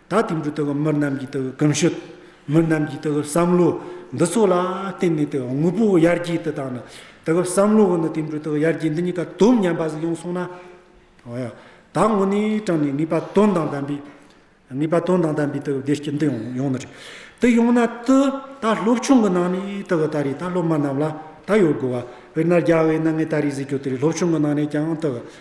ད་ལྟའི་འབྲུ་ལྟ་བུ་མི་རྣམས་ཀྱི་ལྟ་བུའི་གོམས་ཤུགས། མི་རྣམས་ཀྱི་ལྟ་བུའི་བསམ་བློ། འདི་ཚོ་ལ་བརྟེན་ནས་དེ་དངོས་པོ་ཡར་རྒྱས་དུ་བཏང་ནས། ལྟ་བུའི་བསམ་བློ་འོག་ནས་དེ་འབྲུ་ལྟ་བུ་ཡར་རྒྱས་འདི་གཉིས་ཀ་དོམ་ཉམས་པ་ཞིག་ཡོང་སོང་ན། ད་དངོས་གནས་དྲང་ནས་ངེས་པ་དོན་དང་ལྡན་པའི། ངེས་པ་དོན་དང་ལྡན་པའི་ལྟ་བུའི་བདེ་སྐྱིད་འདི་ཡོང་ན་ཡོང་ནི་རེད། དེ་ཡོང་ན་དུ་ད་སློབ་ཆུང་གི་ནང་ནས་ལྟ་བུ་ད་རེས་ད་སློབ་མ་རྣམས་ལ་ད་ཡོད་དགོས་པ། དཔེར་ན་རྒྱ་བོད་གནའ་ངའི་ད་རེས་གཟིགས་སྐྱོ་དེ་རེས་སློབ་ཆུང་གི་ནང་ནས་ཀྱང་ལྟ་བུ་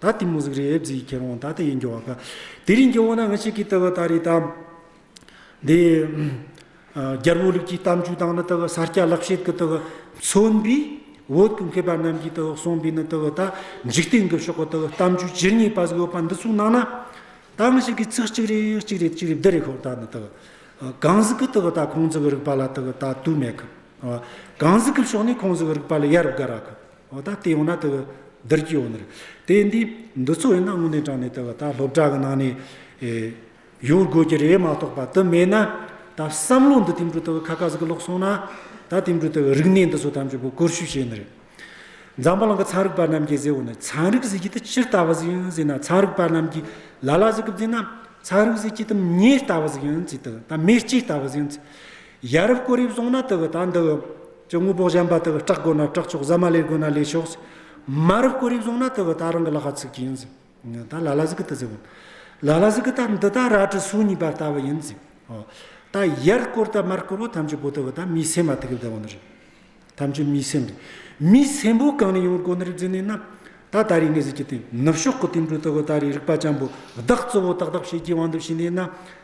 ད་ལྟའི་མོ་གཟུགས་རིས་དབྱིབས་རྩི་ཡི་ཁྱེར་འོང་ད་ལྟ་ཡི་འགྱུར་བ་ཀ། དེ་རིང་གི་འོ་ན་ང་ཞིག་གིས་ལྟ་བ་ལྟ་རེ་དང། དེ། རྒྱལ་པོ་ལུགས་ཀྱི་གཏམ་རྒྱུད་དང་ནི་ལྟ་བ་ས་སྐྱ་ལག་བཤད་ཀྱི་ལྟ་བ། མཚོན་པའི་འོད་ཀྱི་མཁས་པ་རྣམས་ཀྱིས་ལྟ་བ་གསུངས་པའི་ནི་ལྟ་བ་ལྟ། འཇིག་རྟེན་གྱི་ཕྱོགས་ཀྱི་ལྟ་བ་གཏམ་རྒྱུད་ཇི་སྙེད་པ་ཟིག་ཡོད་པ་འདི་ཚོ་ནང་ན། ད་ང་ཞིག་གིས་ཚིག་གཅིག་རེ་གཅིག་རེ་གཅིག་རེ་བསྡུ་རེ་ཤོག་ད་ནི་ལྟ་བ། གང་ཟག་གི་ལྟ་བ་ད་ཁོང་ཚོ་གི་རིག་པ་ལ་ལྟ་བ་ད་དུ་མེད་ཀི། གང་ཟག་གི་ཕྱོགས་ནས་ཁོང་ཚོ་གི་རིག་པ་ལ་ཡ་རབས་དགའ་ར་ཀི། ད་ལྟའི་ཡོང་ན་དེ་བདུད་རྒྱུད་ཡོང་ནི་རེད། དེ་འདི་འདི་ཚོ་ཡིན་ན་དངོས་གནས་དྲང་ནས་དེ་བ་ད་སློབ་གྲྭ་གི་ནང་ནས་ཡོད་དགོས་ཀྱི་རེད་མ་གཏོགས་པ་དེ་མེད་ན་ད་བསམ་བློ་འདི་དེ་འདྲའི་དེ་བ་ཁ་ཁ་ཟིག་གི་ལོག་སོང་ན་ད་དེ་འདྲའི་དེ་བ་རིག་གནས་འདི་ཚོ་ཐམས་ཅད་བོ་བཀོལ་ཤུལ་བྱས་ནི་རེད། འཛམ་བུ་གླིང་གི་ཚན་རིག་པ་རྣམས་ཀྱིས་ཟེར་བ་ནི་ཚན་རིག་ཟེར་གྱི་དེ་ཅི་ལྟ་བ་ཟིག་ཡིན་ཟེར་ན་ཚན་རིག་པ་རྣམས་ཀྱིས་ལ་ལ་ཟིག་གི་བརྫིས་ན་ཚན་རིག་ཟེར་གྱི་དེ་མྱི་ལྟ་བ་ཟིག་ཡིན་ཟེར་དེ་ད་མི་སྤྱི་ལྟ་བ་ཟིག་ཡིན་ཟེར། ཡ་རབས་སྐུ་རིབ་སོང་ན་དུ་བུ་དང་འདི་བུ། ཀྱི་དངུལ་བོགས་བཞན་པ་དུ་བུ་སྐྲག་དགོས་ན་སྐྲག་ཆོག་ཟ་མ་ལས་དགོས་ན་ལས་ཆོག། མ་རབས་སྐུ་རིབ་སོང་ན་དུ་བུ་ད་རང་གི་བླ་ཁ་ཚུགས་ཀྱི་ཡིན། ད་ལ་ལ་ཟིག་གི་དུ་ཟེར་བ། ལ་ལ་ཟིག་གི་ད་འདི་ད་ར་གྲི་སུག་གཉིས་པ་ལྟ་བུ་ཡིན། ད་ཡར་བསྐོར་ད་མར་བསྐོར་བ་ཐམས་ཅད་བོ་དུ་བུ་ད་མི་སེམས་མ་ཐུག་གི་བདེ་བ་ནི་རེད། ཐམས་ཅད་མི་སེམས་རེད། མི་སེམས་བོ་གང་ནས་ཡོང་བར་གོ་ནི་རེད་ཟེར་ནས་ན། ད་ད་རེས་ངས་ཟེར་གྱི་དེ་ནུབ་ཕྱོགས་ཀྱི་དུད་འགྲོ་ལྟ་བུ་ད་རེས་རིག་པ་ཅན་པོ་བདག་གཙོ་བོ་ཏག་ཏག་བྱེད་ཀྱི་དབང་དུ་བྱས་ནས་ན།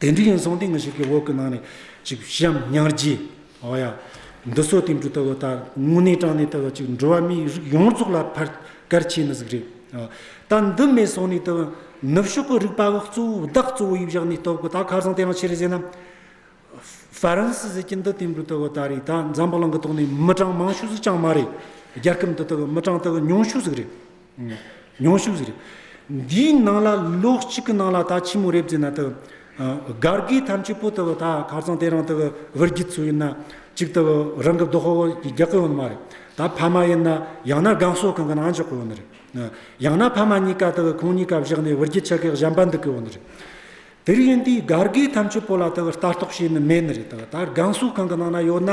དེ་འདྲའི་ཡིན་སོང་དེ་འགའ་ཞིག་གི་འོག་གི་ནང་ནས་ཅིག་བཤམས་ཉར་རྗེས། འོ་ཡ། འདི་གསོ་དེ་འབྲུ་ལྟ་བུ་ལྟར་དངོས་གནས་དྲང་གནས་ལྟ་བུ་ཅིག་འགྲོ་བ་མིའི་རིགས་ཡོངས་རྫོགས་ལ་ཕར་བསྐལ་ཆད་ནི་ཟིག་རེད། ད་འདི་མེད་སོང་ནས་དུ་ནུབ་ཕྱོགས་ཀྱི་རིག་པ་བ་གཙོ་བོ་བདག་གཙོ་བོ་ཡིས་བཞག་ནས་རྟོགས་དགོས་ད་ཁ་སང་དེ་ཡང་ཕྱི་རུ་ཟས་ན། ཧྥ་རན་སི་ཟེར་གྱི་འདི་དེ་འབྲུ་ལྟ་བུ་ལྟར་རེད་ད་འཛམ་བུ་གླིང་གི་ཐོག་ནས་མི་གྲངས་མང་ཤོས་སུ་ཅང་མ་རེད། རྒྱལ་ཁབ་འདི་ལྟ་བུ་མི་གྲངས་ལྟ་བུ་ཉུང་ཤོས་ཟིག་རེད། མྱོང་ཤུགས་ཟེར། འདིའི་ནང་ལ་ལོགས་གཅིག་གི་ནང་ལ་ད་ཕྱི་མོ་རེབ་རྫི་ན་དག། སྒར་གི་ཐམས་ཅད་པོ་དག་ད་གར་ཚང་དེ་རང་དག་བར་གྱི་ཚུལ་ཡིན་ན། གཅིག་དག་རང་གི་རྡོ་ཧོ་ཧོ་གི་རྒྱག་གི་ཡོད་ནི་མ་རེད། ད་ཕ་མ་ཡིན་ན་ཡང་ན་སྒང་སོག་གང་གི་ནང་འཇོག་གི་ཡོད་ནི་རེད། ཡང་ན་ཕ་མ་གཉིས་ཀ་དག་ཁོང་གཉིས་ཀ་བཞག་ནས་བར་གྱི་ཆ་གས་གཞན་པ་འདུག་གི་ཡོད་ནི་རེད། དེར་ཡིན་དུས་སྒར་གི་ཐམས་ཅད་པོ་ལ་དག་ལྟ་རྟོག་བྱས་ནི་མེད་ནི་རེད། ད་སྒང་སོག་གང་གི་ནང་ན་ཡོད་ན།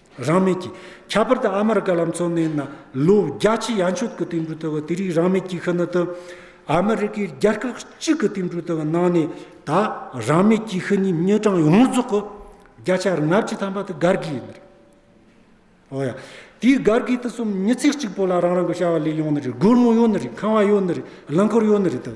རང་མེད་ཀྱི། ཁྱད་པར་དུ་ཨ་མར་བཀའ་ལམ་གཙོ་གནད་ན་ལོ་བརྒྱ་ཆའི་ཡ་མཆོད་ཀྱི་བསྟན་འགྲོའི་ལྟ་བ་དེ་རིགས་རང་མེད་ཀྱི་ཁི་ན་དུ། ཨ་མེ་རི་ཀའི་རྒྱལ་ཁབ་གཅིག་གི་བསྟན་འགྲོའི་ལྟ་བ་ནང་ནས་ད་རང་མེད་ཀྱི་ཁི་ནི་མྱོས་གྲངས་ཡོངས་རྫོགས་ཀྱི་བརྒྱ་ཆ་ལྔ་བཅུ་ཐམ་པ་དེ་སྒར་གྱི་ཡིན་པ་རེད། འོ་ཡ། དེའི་སྒར་གྱི་དེ་གསུམ་མྱི་ཚེ་གཅིག་པོ་ལ་རང་རང་གི་བྱ་བ་ལས་ཡོང་ནི་རེད་སྒོར་མོ་ཡོད་ནི་རེད་ཁང་བ་ཡོད་ནི་རེད་རླངས་འཁོར་ཡོད་ནི་རེད་དོ།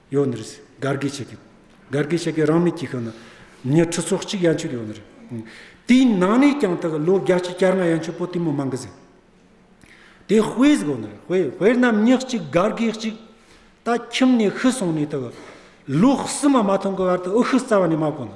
ཡོད་ནི་རེད། དགར་དགེ་བྱེད་མཁན། དགར་དགེ་བྱེད་མཁན་རང་མི་སྐྱིད་ཁག་ན། ཉེར་ཁྲི་སོ་གཅིག་ཡན་ཆོད་ཡོད་ནི་རེད། དེའི་ནང་ནས་ཀྱང་ད་གི་ལོ་བརྒྱ་གཅིག་བསྐྱར་ང་ཡན་ཆོད་པོ་ཏི་མོ་མང་གི་ཟེར། དེ་དཔེ་ཟིག་ཡོད་ནི་རེད་དཔེ་དཔེར་ན་མི་གཅིག་དགར་དགེ་གཅིག། ད་ཁྱིམ་ནས་ཤི་སོང་ནས་ད་གི། ལོ་གསུམ་མ་མ་ཐོན་གི་བར་དུ་ཨུ་ཤི་རྩ་བ་ནས་མ་གོ་ནི།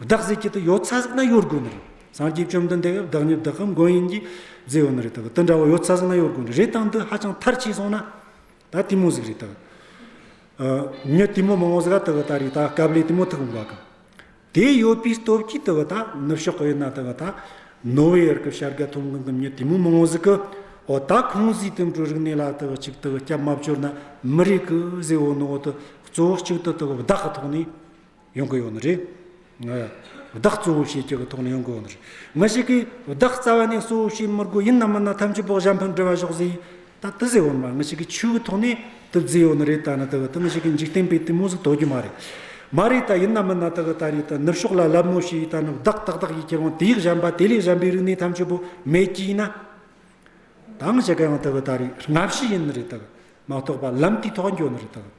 བདག་གཟིགས་ཀྱི་དུ་ཡོད་ཚ་ཟིག་ན་ཡོད་དགོས་ནི་རེད། སངས་རྒྱས་བཅོམ་ལྡན་འདས་ཡང་བདག་ཉིད་བདག་གི་མགོན་ཡིན་གྱིས་མཛད་ཡོད་ནི་རེད་དགོས་དེ་འདྲ་བོ་ཡོད་ཚ་ཟིག་ན་ཡོད་དགོས་ནི་རེད་དང་འདི་ཧ་ཅང་མཐར་ཕྱིན་སོང་ན་ད་དེ་མོ་ཟིག་རེད་དགོས། ཉི་དེ་མོ་མང་བོ་ཟིག་ཨ་དགོས་ད་རེད་ད་སྐབས་ལས་དེ་མོ་ཐུག་འགོ་གམ། དེ་ཡོད་པའི་སྟོབས་ཀྱིས་དགོས་ད་ནུབ་ཕྱོགས་ཀྱི་ཡོད་ན་དགོས་ད་ནོ་ཝེ་ཡར་གྱི་བྱ་དགའ་ཐོབ་མཁན་གྱི་ཉི་དེ་མོ་མང་བོ་ཟིག་གི་འོ་ད་ཁོང་གཟིགས་དེ་འདྲའི་རིག་གནས་ལ་དགོས་ཅིག་དགོས་སྐྱབས་མ་བཅོལ་ན་མི་རེད་གི་ཟེར་འོ་ནོ་འོ་དོ་གཙོ་བོ་གཅིག་དུ་དགོས་བདག་གི་ཐོག་ནས་ཡོང་གི་ཡོད་ནི་རེད། བདག་གཙོ་བོ་བྱེད་ཀྱི་གི་ཐོག་ནས་ཡོང་གི་ཡོད་ནི་རེད། མི་ཞིག་གིས་བདག་རྩ་བ་ནས་གཙོ་བོ་བྱེད་མི་དགོས་ཡིན་ནམ་མིན་ནམ་ཐམས་ཅད་བོགས་ཞབས་ཕུན་སྒྲིལ་བ་ཞོག་ཟེར་ཡིན་ད་དི་ཟེར་འོ་ན་མི་ཞིག་གིས་ཆོས་གི་ཐོག་ནས་དི་བརྫི་ཡོད་ནི་རེད་ད་ནི་དི་གི་དི་མི་ཞིག་གིས་འཇིག་རྟེན་པའི་དི་མོ་ཟིག་དོར་རྒྱུ་མ་རེད། མ་རེད་ད་ཡིན་ནམ་མིན་ན་དི་གི་ད་རེས་ད་ནུབ་ཕྱོགས་ལ་ལབ་མོ་ཞིག་ད་ནི་བདག་ཏག་ཏག་གིས་ཁྱེད་རང་དེའི་གཞན་པ་དེ་ལས་གཞན་པའི་རིག་གནས་ཐམས་ཅད་བོ་མེད་ཀྱི་ཡིན་ན། ད་ང་བྱེད་ཀ་ཡང་དི་གི་ད་རེས་སྔ་ཕྱི་ཡིན་ནི་རེད་དི་གི་མ་གཏོགས་པ་ལམ་དེའི་ཐོག་འགྱོ་ནི་རེད་དི་གི།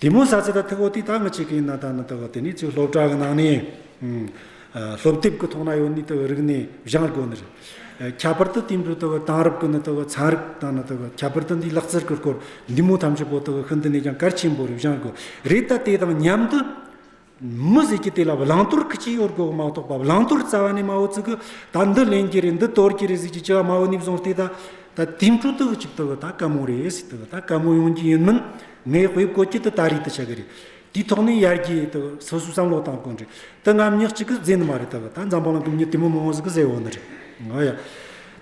དེ་མོ་ས་ཚེ་ད་ཐེ་བོ་ཏི་ཏང་གི་ཆེད་ཀིན་ན་ད་ནི་ད་བ་དེ་ནི་ཚོས་སློབ་གྲྭ་གི་ནང་ནས། སློབ་དེབ་ཀི་ཐོག་ན་ཡོ་ནི་ད་བ་རིག་ནས་བཞང་དགོ་ནི་རེད། ཁྱད་པར་ཏི་དེ་འདྲུ་ད་བ་དང་རབ་ཀི་ནི་ད་བ་ཚན་རིག་ད་ནི་ད་བ་ཁྱད་པར་ཏི་འདི་ལག་རྩལ་ཀི་སྐོར་འདི་མོ་ཐམས་ཅད་པོ་ད་བ་ཧི་འདི་ནས་ཀྱང་གལ་ཆེན་པོ་རེད་བཞང་དགོ་རེད་ད་དེ་དང་མཉམ་དུ། མི་ཟེར་གྱི་དེ་ལ་བླང་དོར་གྱི་སྤྱི་ཡོངས་དགོས་མ་གཏོགས་པ་བླང་དོར་རྩ་བ་ནས་མའོ་ཙི་གི་ད་འདི་ལེན་གྱི་རེད་འདི་དོར་གྱི་རེད་ཟེར་གྱི་སྤྱི་བ་མའོ་ནིབ་བཟུང་སྟེ་ད་ད་དེང་དྲུག་དུ་གཅིག་ཏུ་ད་གད་མོ་རེད་ཟེར་ཏེ་ད་གད་མོ་ཡོང་གྱི་ཡིན་མིན་ངས་དཔེ་བཀོད་ཀྱི་དེ་ད་རེད་དུ་ཆགས་ཀྱི་རེད་དེའི་ཐོག་ནས་ཡར་རྒྱས་དེ་སོ་སོས་བསམ་བློ་བཏང་དགོས་རེད་དེ་ངམ་ཉག་གཅིག་གིས་རྫས་ནི་མ་རེད་དེ་ད་འཛམ་བུ་གླིང་གི་མྱི་དེ་མོ་མའོ་ཙི་གི་ཟེར་བ་ནི་རེད་ང་ཡ་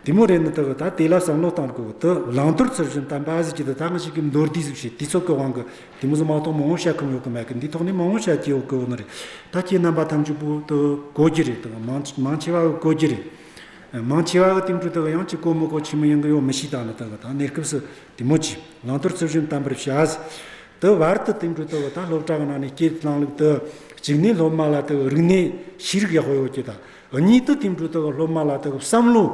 དེ་མོ་རེད་ནི་དེ་ད་དེ་ལ་བསམ་བློ་བཏང་དགོས་དེ་བླང་དོར་ཚུལ་བཞིན་དམ་པ་ཟེར་གྱི་དེ་ད་ང་ཞིག་གིས་མདོར་བསྡུས་གཟིགས་བྱེད་དུས་ཚོགས་ཀྱི་དབང་གི་དེ་མུ་ཟི་མ་གཏོགས་མང་བོ་བཤད་ཁོམ་ཡོད་ཀི་མེད་ཀི་འདི་ཐོག་ནས་མང་བོ་བཤད་ཀྱི་ཡོད་ཀི་འོ་ན་རེད་ད་ཁྱེད་རྣམ་པ་ཐམས་ཅད་པུ་ཏུ་གོ་རྒྱུ་རེད་དང་མང་ཆེ་བ་གོ་རྒྱུ་རེད། མང་ཆེ་བ་གི་སྟེང་དུ་དང་ཡང་ཅིག་གོ་མི་གོ་ཆེ་མི་ཡིན་ཀི་ཡོད་མི་ཞིག་དང་ནི་དང་གནས་སྐབས་སུ་དེ་མོ་ཅིག་ལང་དོར་ཚུལ་བཞིན་གཏམ་པར་བྱ་ཟེར། དུ་བར་དུ་སྟེང་དུ་དང་ད་སློབ་གྲྭ་གི་ནང་ནས་སྐྱེས་དང་ལུག་དུ་གཅིག་ནས་སློབ་མ་ལ་དང་རིག་གནས་ཤེས་རིག་ཡག་པོ་ཡོད་ཀྱི་དང། ཨོ་ཉིད་དུ་ཐིམ་དྲུག་དག་སློབ་མ་ལ་དག་བསམ་བློ།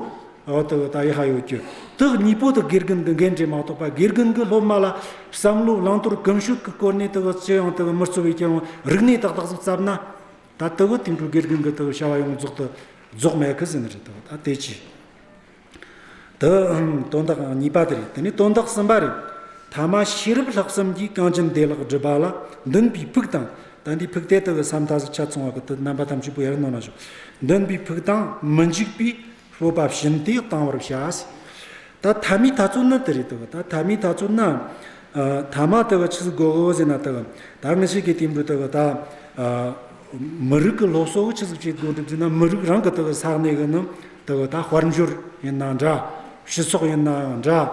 ཨོ་དག་ད་ཡི་ཧ་ཡོད་ཀྱི། དག་གཉིས་པོ་དག་དགེ་རྒན་དག་འགན་འཁྲི་མ་ཐོབ་པ་དགེ་རྒན་གྱི་སློབ་མ་ལ་བསམ་བློ་བླང་དོར་གང་ཞུགས་ཀྱི་སྐོར་ནས་དག་ཅི་ཡང་དག་མི་རྩོལ་བའི་སྐྱོན་རིག་གནས་དག་དག་བརྩབ་ན། ད་དག་ཐིམ་དྲུག་དགེ་རྒན་གྱི་དག་བྱ་བ་ཡོངས་རྫོགས་དག་རྫོགས་མེད་ཀྱི་ཟིན་རེད་དག་ད་དེ་ཅི། དུ། དོན་དག་གཉིས་པ་དེ་རེད། དེ་ནས་དོན་དག་གསུམ་པ་རེད། ཐ་མ་ཤེས་རབ་ལྷག་བསམ་གྱིས་རྐང་གཅིག་འདས་ལྷག་བསྒྲུབས་པ་ལ་འདུན་པའི་ཕུགས་དང། དམ་པའི་ཕུགས་དེ་དག་གི་ས་མཐའ་སུ་ཆ་ཚང་བ་ཀུན་ཏུ་རྣམ་པ་ཐམས་ཅད་པོ་ཡར་སྣང་ལ་བཞུགས། འདུན་པའི་ཕུགས་དང་མི་འཇིགས་པའི་སྤོབས་པ་བཞིན་དེ་གཏང་བར་བྱ། ད་ཐ་མའི་ཐ་ཚུལ་ནི་དེ་རེད་དོ། ད་ཐ་མའི་ཐ་ཚུལ་ནི། ཐ་མ་དེ་གི་ཕྱི་སྒོ་དབུ་བཞི་ན་དེ། ད་མི་ཤེས་ཀྱི་དེ་འདྲུལ་དེ་གི་ད། མི་རིགས་ཀྱི་ལོ་སོ་བུ་ཕྱི་སྒོ་ཕྱི་སྒོ་འགྲིབ་རྫས་ན་མི་རིགས་རང་གི་དེ་གི་ས་གནས་གི་ནི་ལྟ་བ་དང་དཔལ་འབྱོར་ཡིན་ནའང་འདྲ། སྤྱི་ཚོགས་ཡིན་ནའང་འདྲ།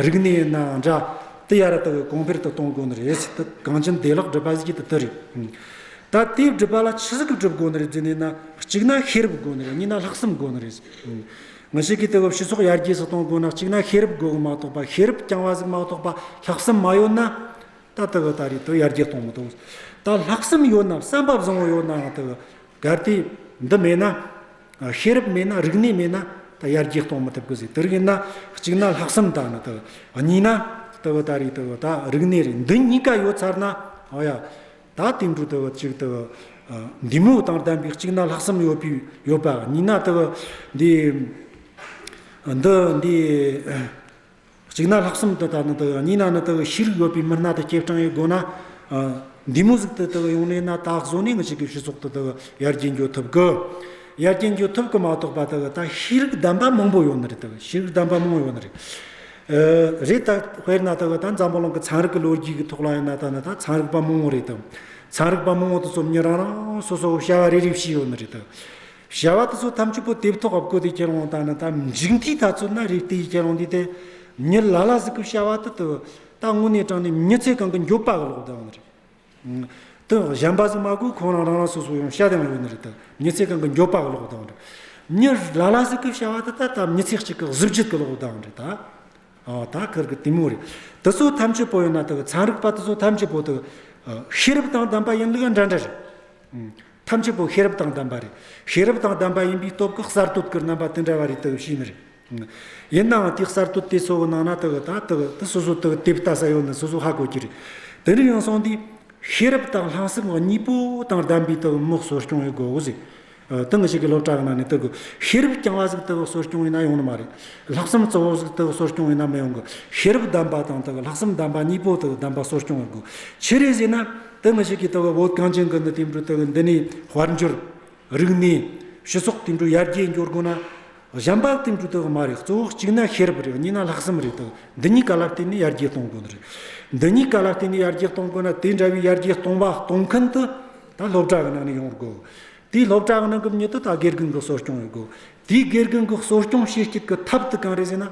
རིག་གནས་ཡིན་ནའང་འདྲ། དེ་ཡར་ལྟ་བའི་གོང་འཕེལ་དུ་གཏོང་དགོས་ནི་རེད། ཚིག་ཐོ་གང་ཅི་འདས་ལག་སྒྲིབ་པ་ཞིག་དེ་རེད། ད་ལྟའི་སྒྲིབ་པ་ལ་ཕྱི་གསལ་སྒྲིབ་དགོས་ནི་རེད་དེ་ནས་ན་གཅིག་ན་ཤེས་རབ་དགོས་ནི་རེད་གཉིས་ན་ལྷག་བསམ་དགོས་ནི་རེད། ངས་ཤེས་ཀི་དེ་བས་སྤྱི་ཚོགས་ཡར་རྒྱས་སུ་གཏོང་དགོས་ན་གཅིག་ན་ཤེས་རབ་དགོས་གི་མ་གཏོགས་པ་ཤེས་རབ་རྐྱང་བ་ཞིག་མ་གཏོགས་པ་ལྷག་བསམ་མ་ཡོད་ན། ད་ལྟ་བའི་ད་རེས་དེ་ཡར་རྒྱས་གཏོང་མི་ཐུབ། ད་ལྷག་བསམ་ཡོད་ནའང་བསམ་པ་བཟང་བོ་ཡོད་ནའང་དེ་གར་དེ་འདི་མེད་ན། ཤེས་རབ་མེད་ན་རིག་གནས་མེད་ན་ད་ཡར་རྒྱས་གཏོང་མི་ཐུབ་གི་ཟིག་དེ་རིང་ཡིན་ན་གཅིག་ན་ལྷག་བསམ་དང་ནི་དང་གཉིས་ན་དེ་བུ་ད་རེས་དེ་བུ་ད་རིག་གནས་རེད་འདི་གཉིས་ཀ་ཡོད་ཚར་ན་ཨོ་ཡ། ད་དེ་འདྲུ་དེ་བུ་གཅིག་དེ་བུ་འདི་མོ་དང་ལྡན་པའི་གཅིག་ན་ལྷག་བསམ་ཡོད་པའི་ཡོད་པ་གཉིས་ན་དེ་བུ་འདི་འདི་འདི། གཅིག་ན་ལྷག་གསུམ་དུ་ལྟ་ན་དགའ་བ་གཉིས་ན་ནི་དགའ་བའི་ཤེས་རིག་ཡོད་པའི་མི་སྣ་དང་སྐྱེས་སྤྲིངས་ཡོད་དགོས་ན། འདི་མོ་ཟིག་ཏུ་དགའ་བའི་ཡོངས་གནས་ན་དག་བཟོ་གནས་ངེས་ཅན་གྱི་བཞི་ཚོགས་དུ་དགའ་བའི་ཡར་རྒྱས་འཇོག་ཐུབ་དགོས། ཡར་རྒྱས་འཇོག་ཐུབ་དགོས་མ་གཏོགས་པ་དགའ་བའི་ད་ཤེས་རིག་གདམས་པ་མང་པོ་ཡོད་ནི་རེད་དགའ་བའི་ཤེས་རིག་གདམས་པ་མང་ཡོད་ནི་རེད། རེད་ད་དཔེར་ན་དགའ་བའི་ད་འཛམ་བུ་གླིང་གི་ཚན་རིག་གི་ལོ་རྒྱུས་ཀྱི་ཐོག་ལ་ཡིན་ན་ད་ནི་ད་ཚན་རིག་པ་མང་བོ་རེད་དམ། ཚན་རིག་པ་མང་བོ་དེ་ཚོ་མྱི་རང་རང་སོ་སོ་བྱ་བ་རེ་རེ་བྱས་ཡོད་ནི་རེད། བྱ་བ་དེ་ཚོ་ཐམས་ཅད་པོ་ཏི་ཐོག་ཨབ་ཀོ་དེ་ཁྱེར་འོང་དང་ན་ད་འཇིག་འདི་ད་ཚོད་ན་རིག་དེ་ཡི་ཁྱེར་འོང་དེ་དེ་མྱུར་ལ་ལ་གཟིགས་ཀུ་བྱ་བ་དེ་དུ་ད་དངོས་གནས་དྲང་ནས་མྱུར་ཚད་གང་གི་མགྱོགས་པ་གི་ལོག་ལྡང་རེད། དོན་གཞན་པ་ཟིག་མ་གོ་ཁོང་རང་རང་རང་སོ་སོ་ཡང་ཤ་ལྡང་ཡོད་ནི་རེད་ད་མྱུར་ཚད་གང་གི་མགྱོགས་པ་གི་ལོག་ལྡང་རེད། མྱུར་ལ་ལ་གཟིགས་ཀུ་བྱ་བ་དེ་ད་ད་མྱུར་ཚད་གཅིག་གི་གཟི་བརྗིད་གི་ལོག་ལྡང་རེད་ད། ཨོ་ད་ཁར་གི་དེ་མོ་རེད་དེ་ཚོ་ཐམས་ཅད་པོ་ཡང་ན་དེ་གི་ཚན་རིག་པ་དེ་ཚོ་ཐམས་ཅད་པོ་དེ་གི་ཤེས་རབ་དང་ལྡན་པ་ཡིན་ལུགས་ཡང་འདྲ་འདྲ་རེད། ཐབས་ཆེན་པོ་ཤེས་རབ་དང་ལྡན་པ་རེད། ཤེས་རབ་དང་ལྡན་པ་ཡིན་པའི་སྟོབས་ཀྱི་གསར་གཏོད་ཀྱི་རྣམ་པ་དེ་འདྲ་བ་རེད་དག་བྱས་ནི་རེད། ཡིན་ནའང་དེ་གསར་གཏོད་དེ་གཙོ་བོ་ནང་ན་དག་ད་དག་དེ་སོ་སོ་དག་དེབ་ལྟ་ས་ཡོད་ན་སོ་སོ་ཧ་གོ་གྱི་རེད། དེ་འདྲ་ཡིན་སོང་དུས་ཤེས་རབ་དང་ལྷག་བསམ་གཉིས་པོ་དང་ལྡན་པའི་དག་དམག་གསོ་སྐྱོང་ཡོད་དགོས་ཟེར། དེ་འགའ་ཞིག་གི་སློབ་གྲྭ་ཡོང་ན་ནི་དག་ཤེས་རབ་རྐྱང་བ་ཟིག་དག་གསོ་སྐྱོང་ཡོད་ན་ཡོང་ནི་མ་རེད། ལྷག་བསམ་གཙོ་བོ་ཟིག་དག་གསོ་སྐྱོང་ཡོད་ན་མི་ཡོང་གི། ཤེས་རབ་ལྡན་པ་དང་དག་ལྷག་བསམ་ལྡན་པ་གཉིས་པོ་དག་ལྡན་པ་གསོ་སྐྱོང་ཡོད་དགོས་ཆི་རེད་ཟེར་ན། དེ་མི་ཞིག་གིས་ལྟ་བའི་འོད་གངས་ཅན་གྱི་ནི་དེ་འདྲའི་ལྟ་བའི་འདི་ནི་དཔལ་འབྱོར། རིག་གནས། ཞི་སོགས་དེ་འདྲའི་ཡར་རྒྱས་འགྱུར་དགོས་ན། གཞན་པ་དེ་འདྲའི་ལྟ་བ་མ་རེད་གཙོ་བོ་གཅིག་ན་ཤེས་རབ་རེད་གཉིས་ན་ལྷག་བསམ་རེད་ལྟ་བ་འདི་གཉིས་ཀ་ལ་བརྟེན་ནས་ཡར་རྒྱས་གཏོང་དགོས་ནི་རེད། འདི་གཉིས་ཀ་ལ་བརྟེན་ནས་ཡར་རྒྱས་གཏོང་དགོས་ན་དེ་འདྲ་བའི་ཡར་རྒྱས་གཏོང་བ་གཏོང་མཁན་དུ་ད་སློབ་གྲྭ་གི་ནང་ནས་ཡོང་དགོས། དེའི་སློབ་གྲྭ་གི་ནང་གི་མྱུར་དུ་ད་དགེ་རྒན་གྱི་གསོ་སྐྱོང་ཡོད་དགོས། དེའི་དགེ་རྒན་གྱི་གསོ་སྐྱོང་བྱེད་སྐྱིད་ཀྱི་ཐབས་དེ་གང་རེད་ཟེར་ན།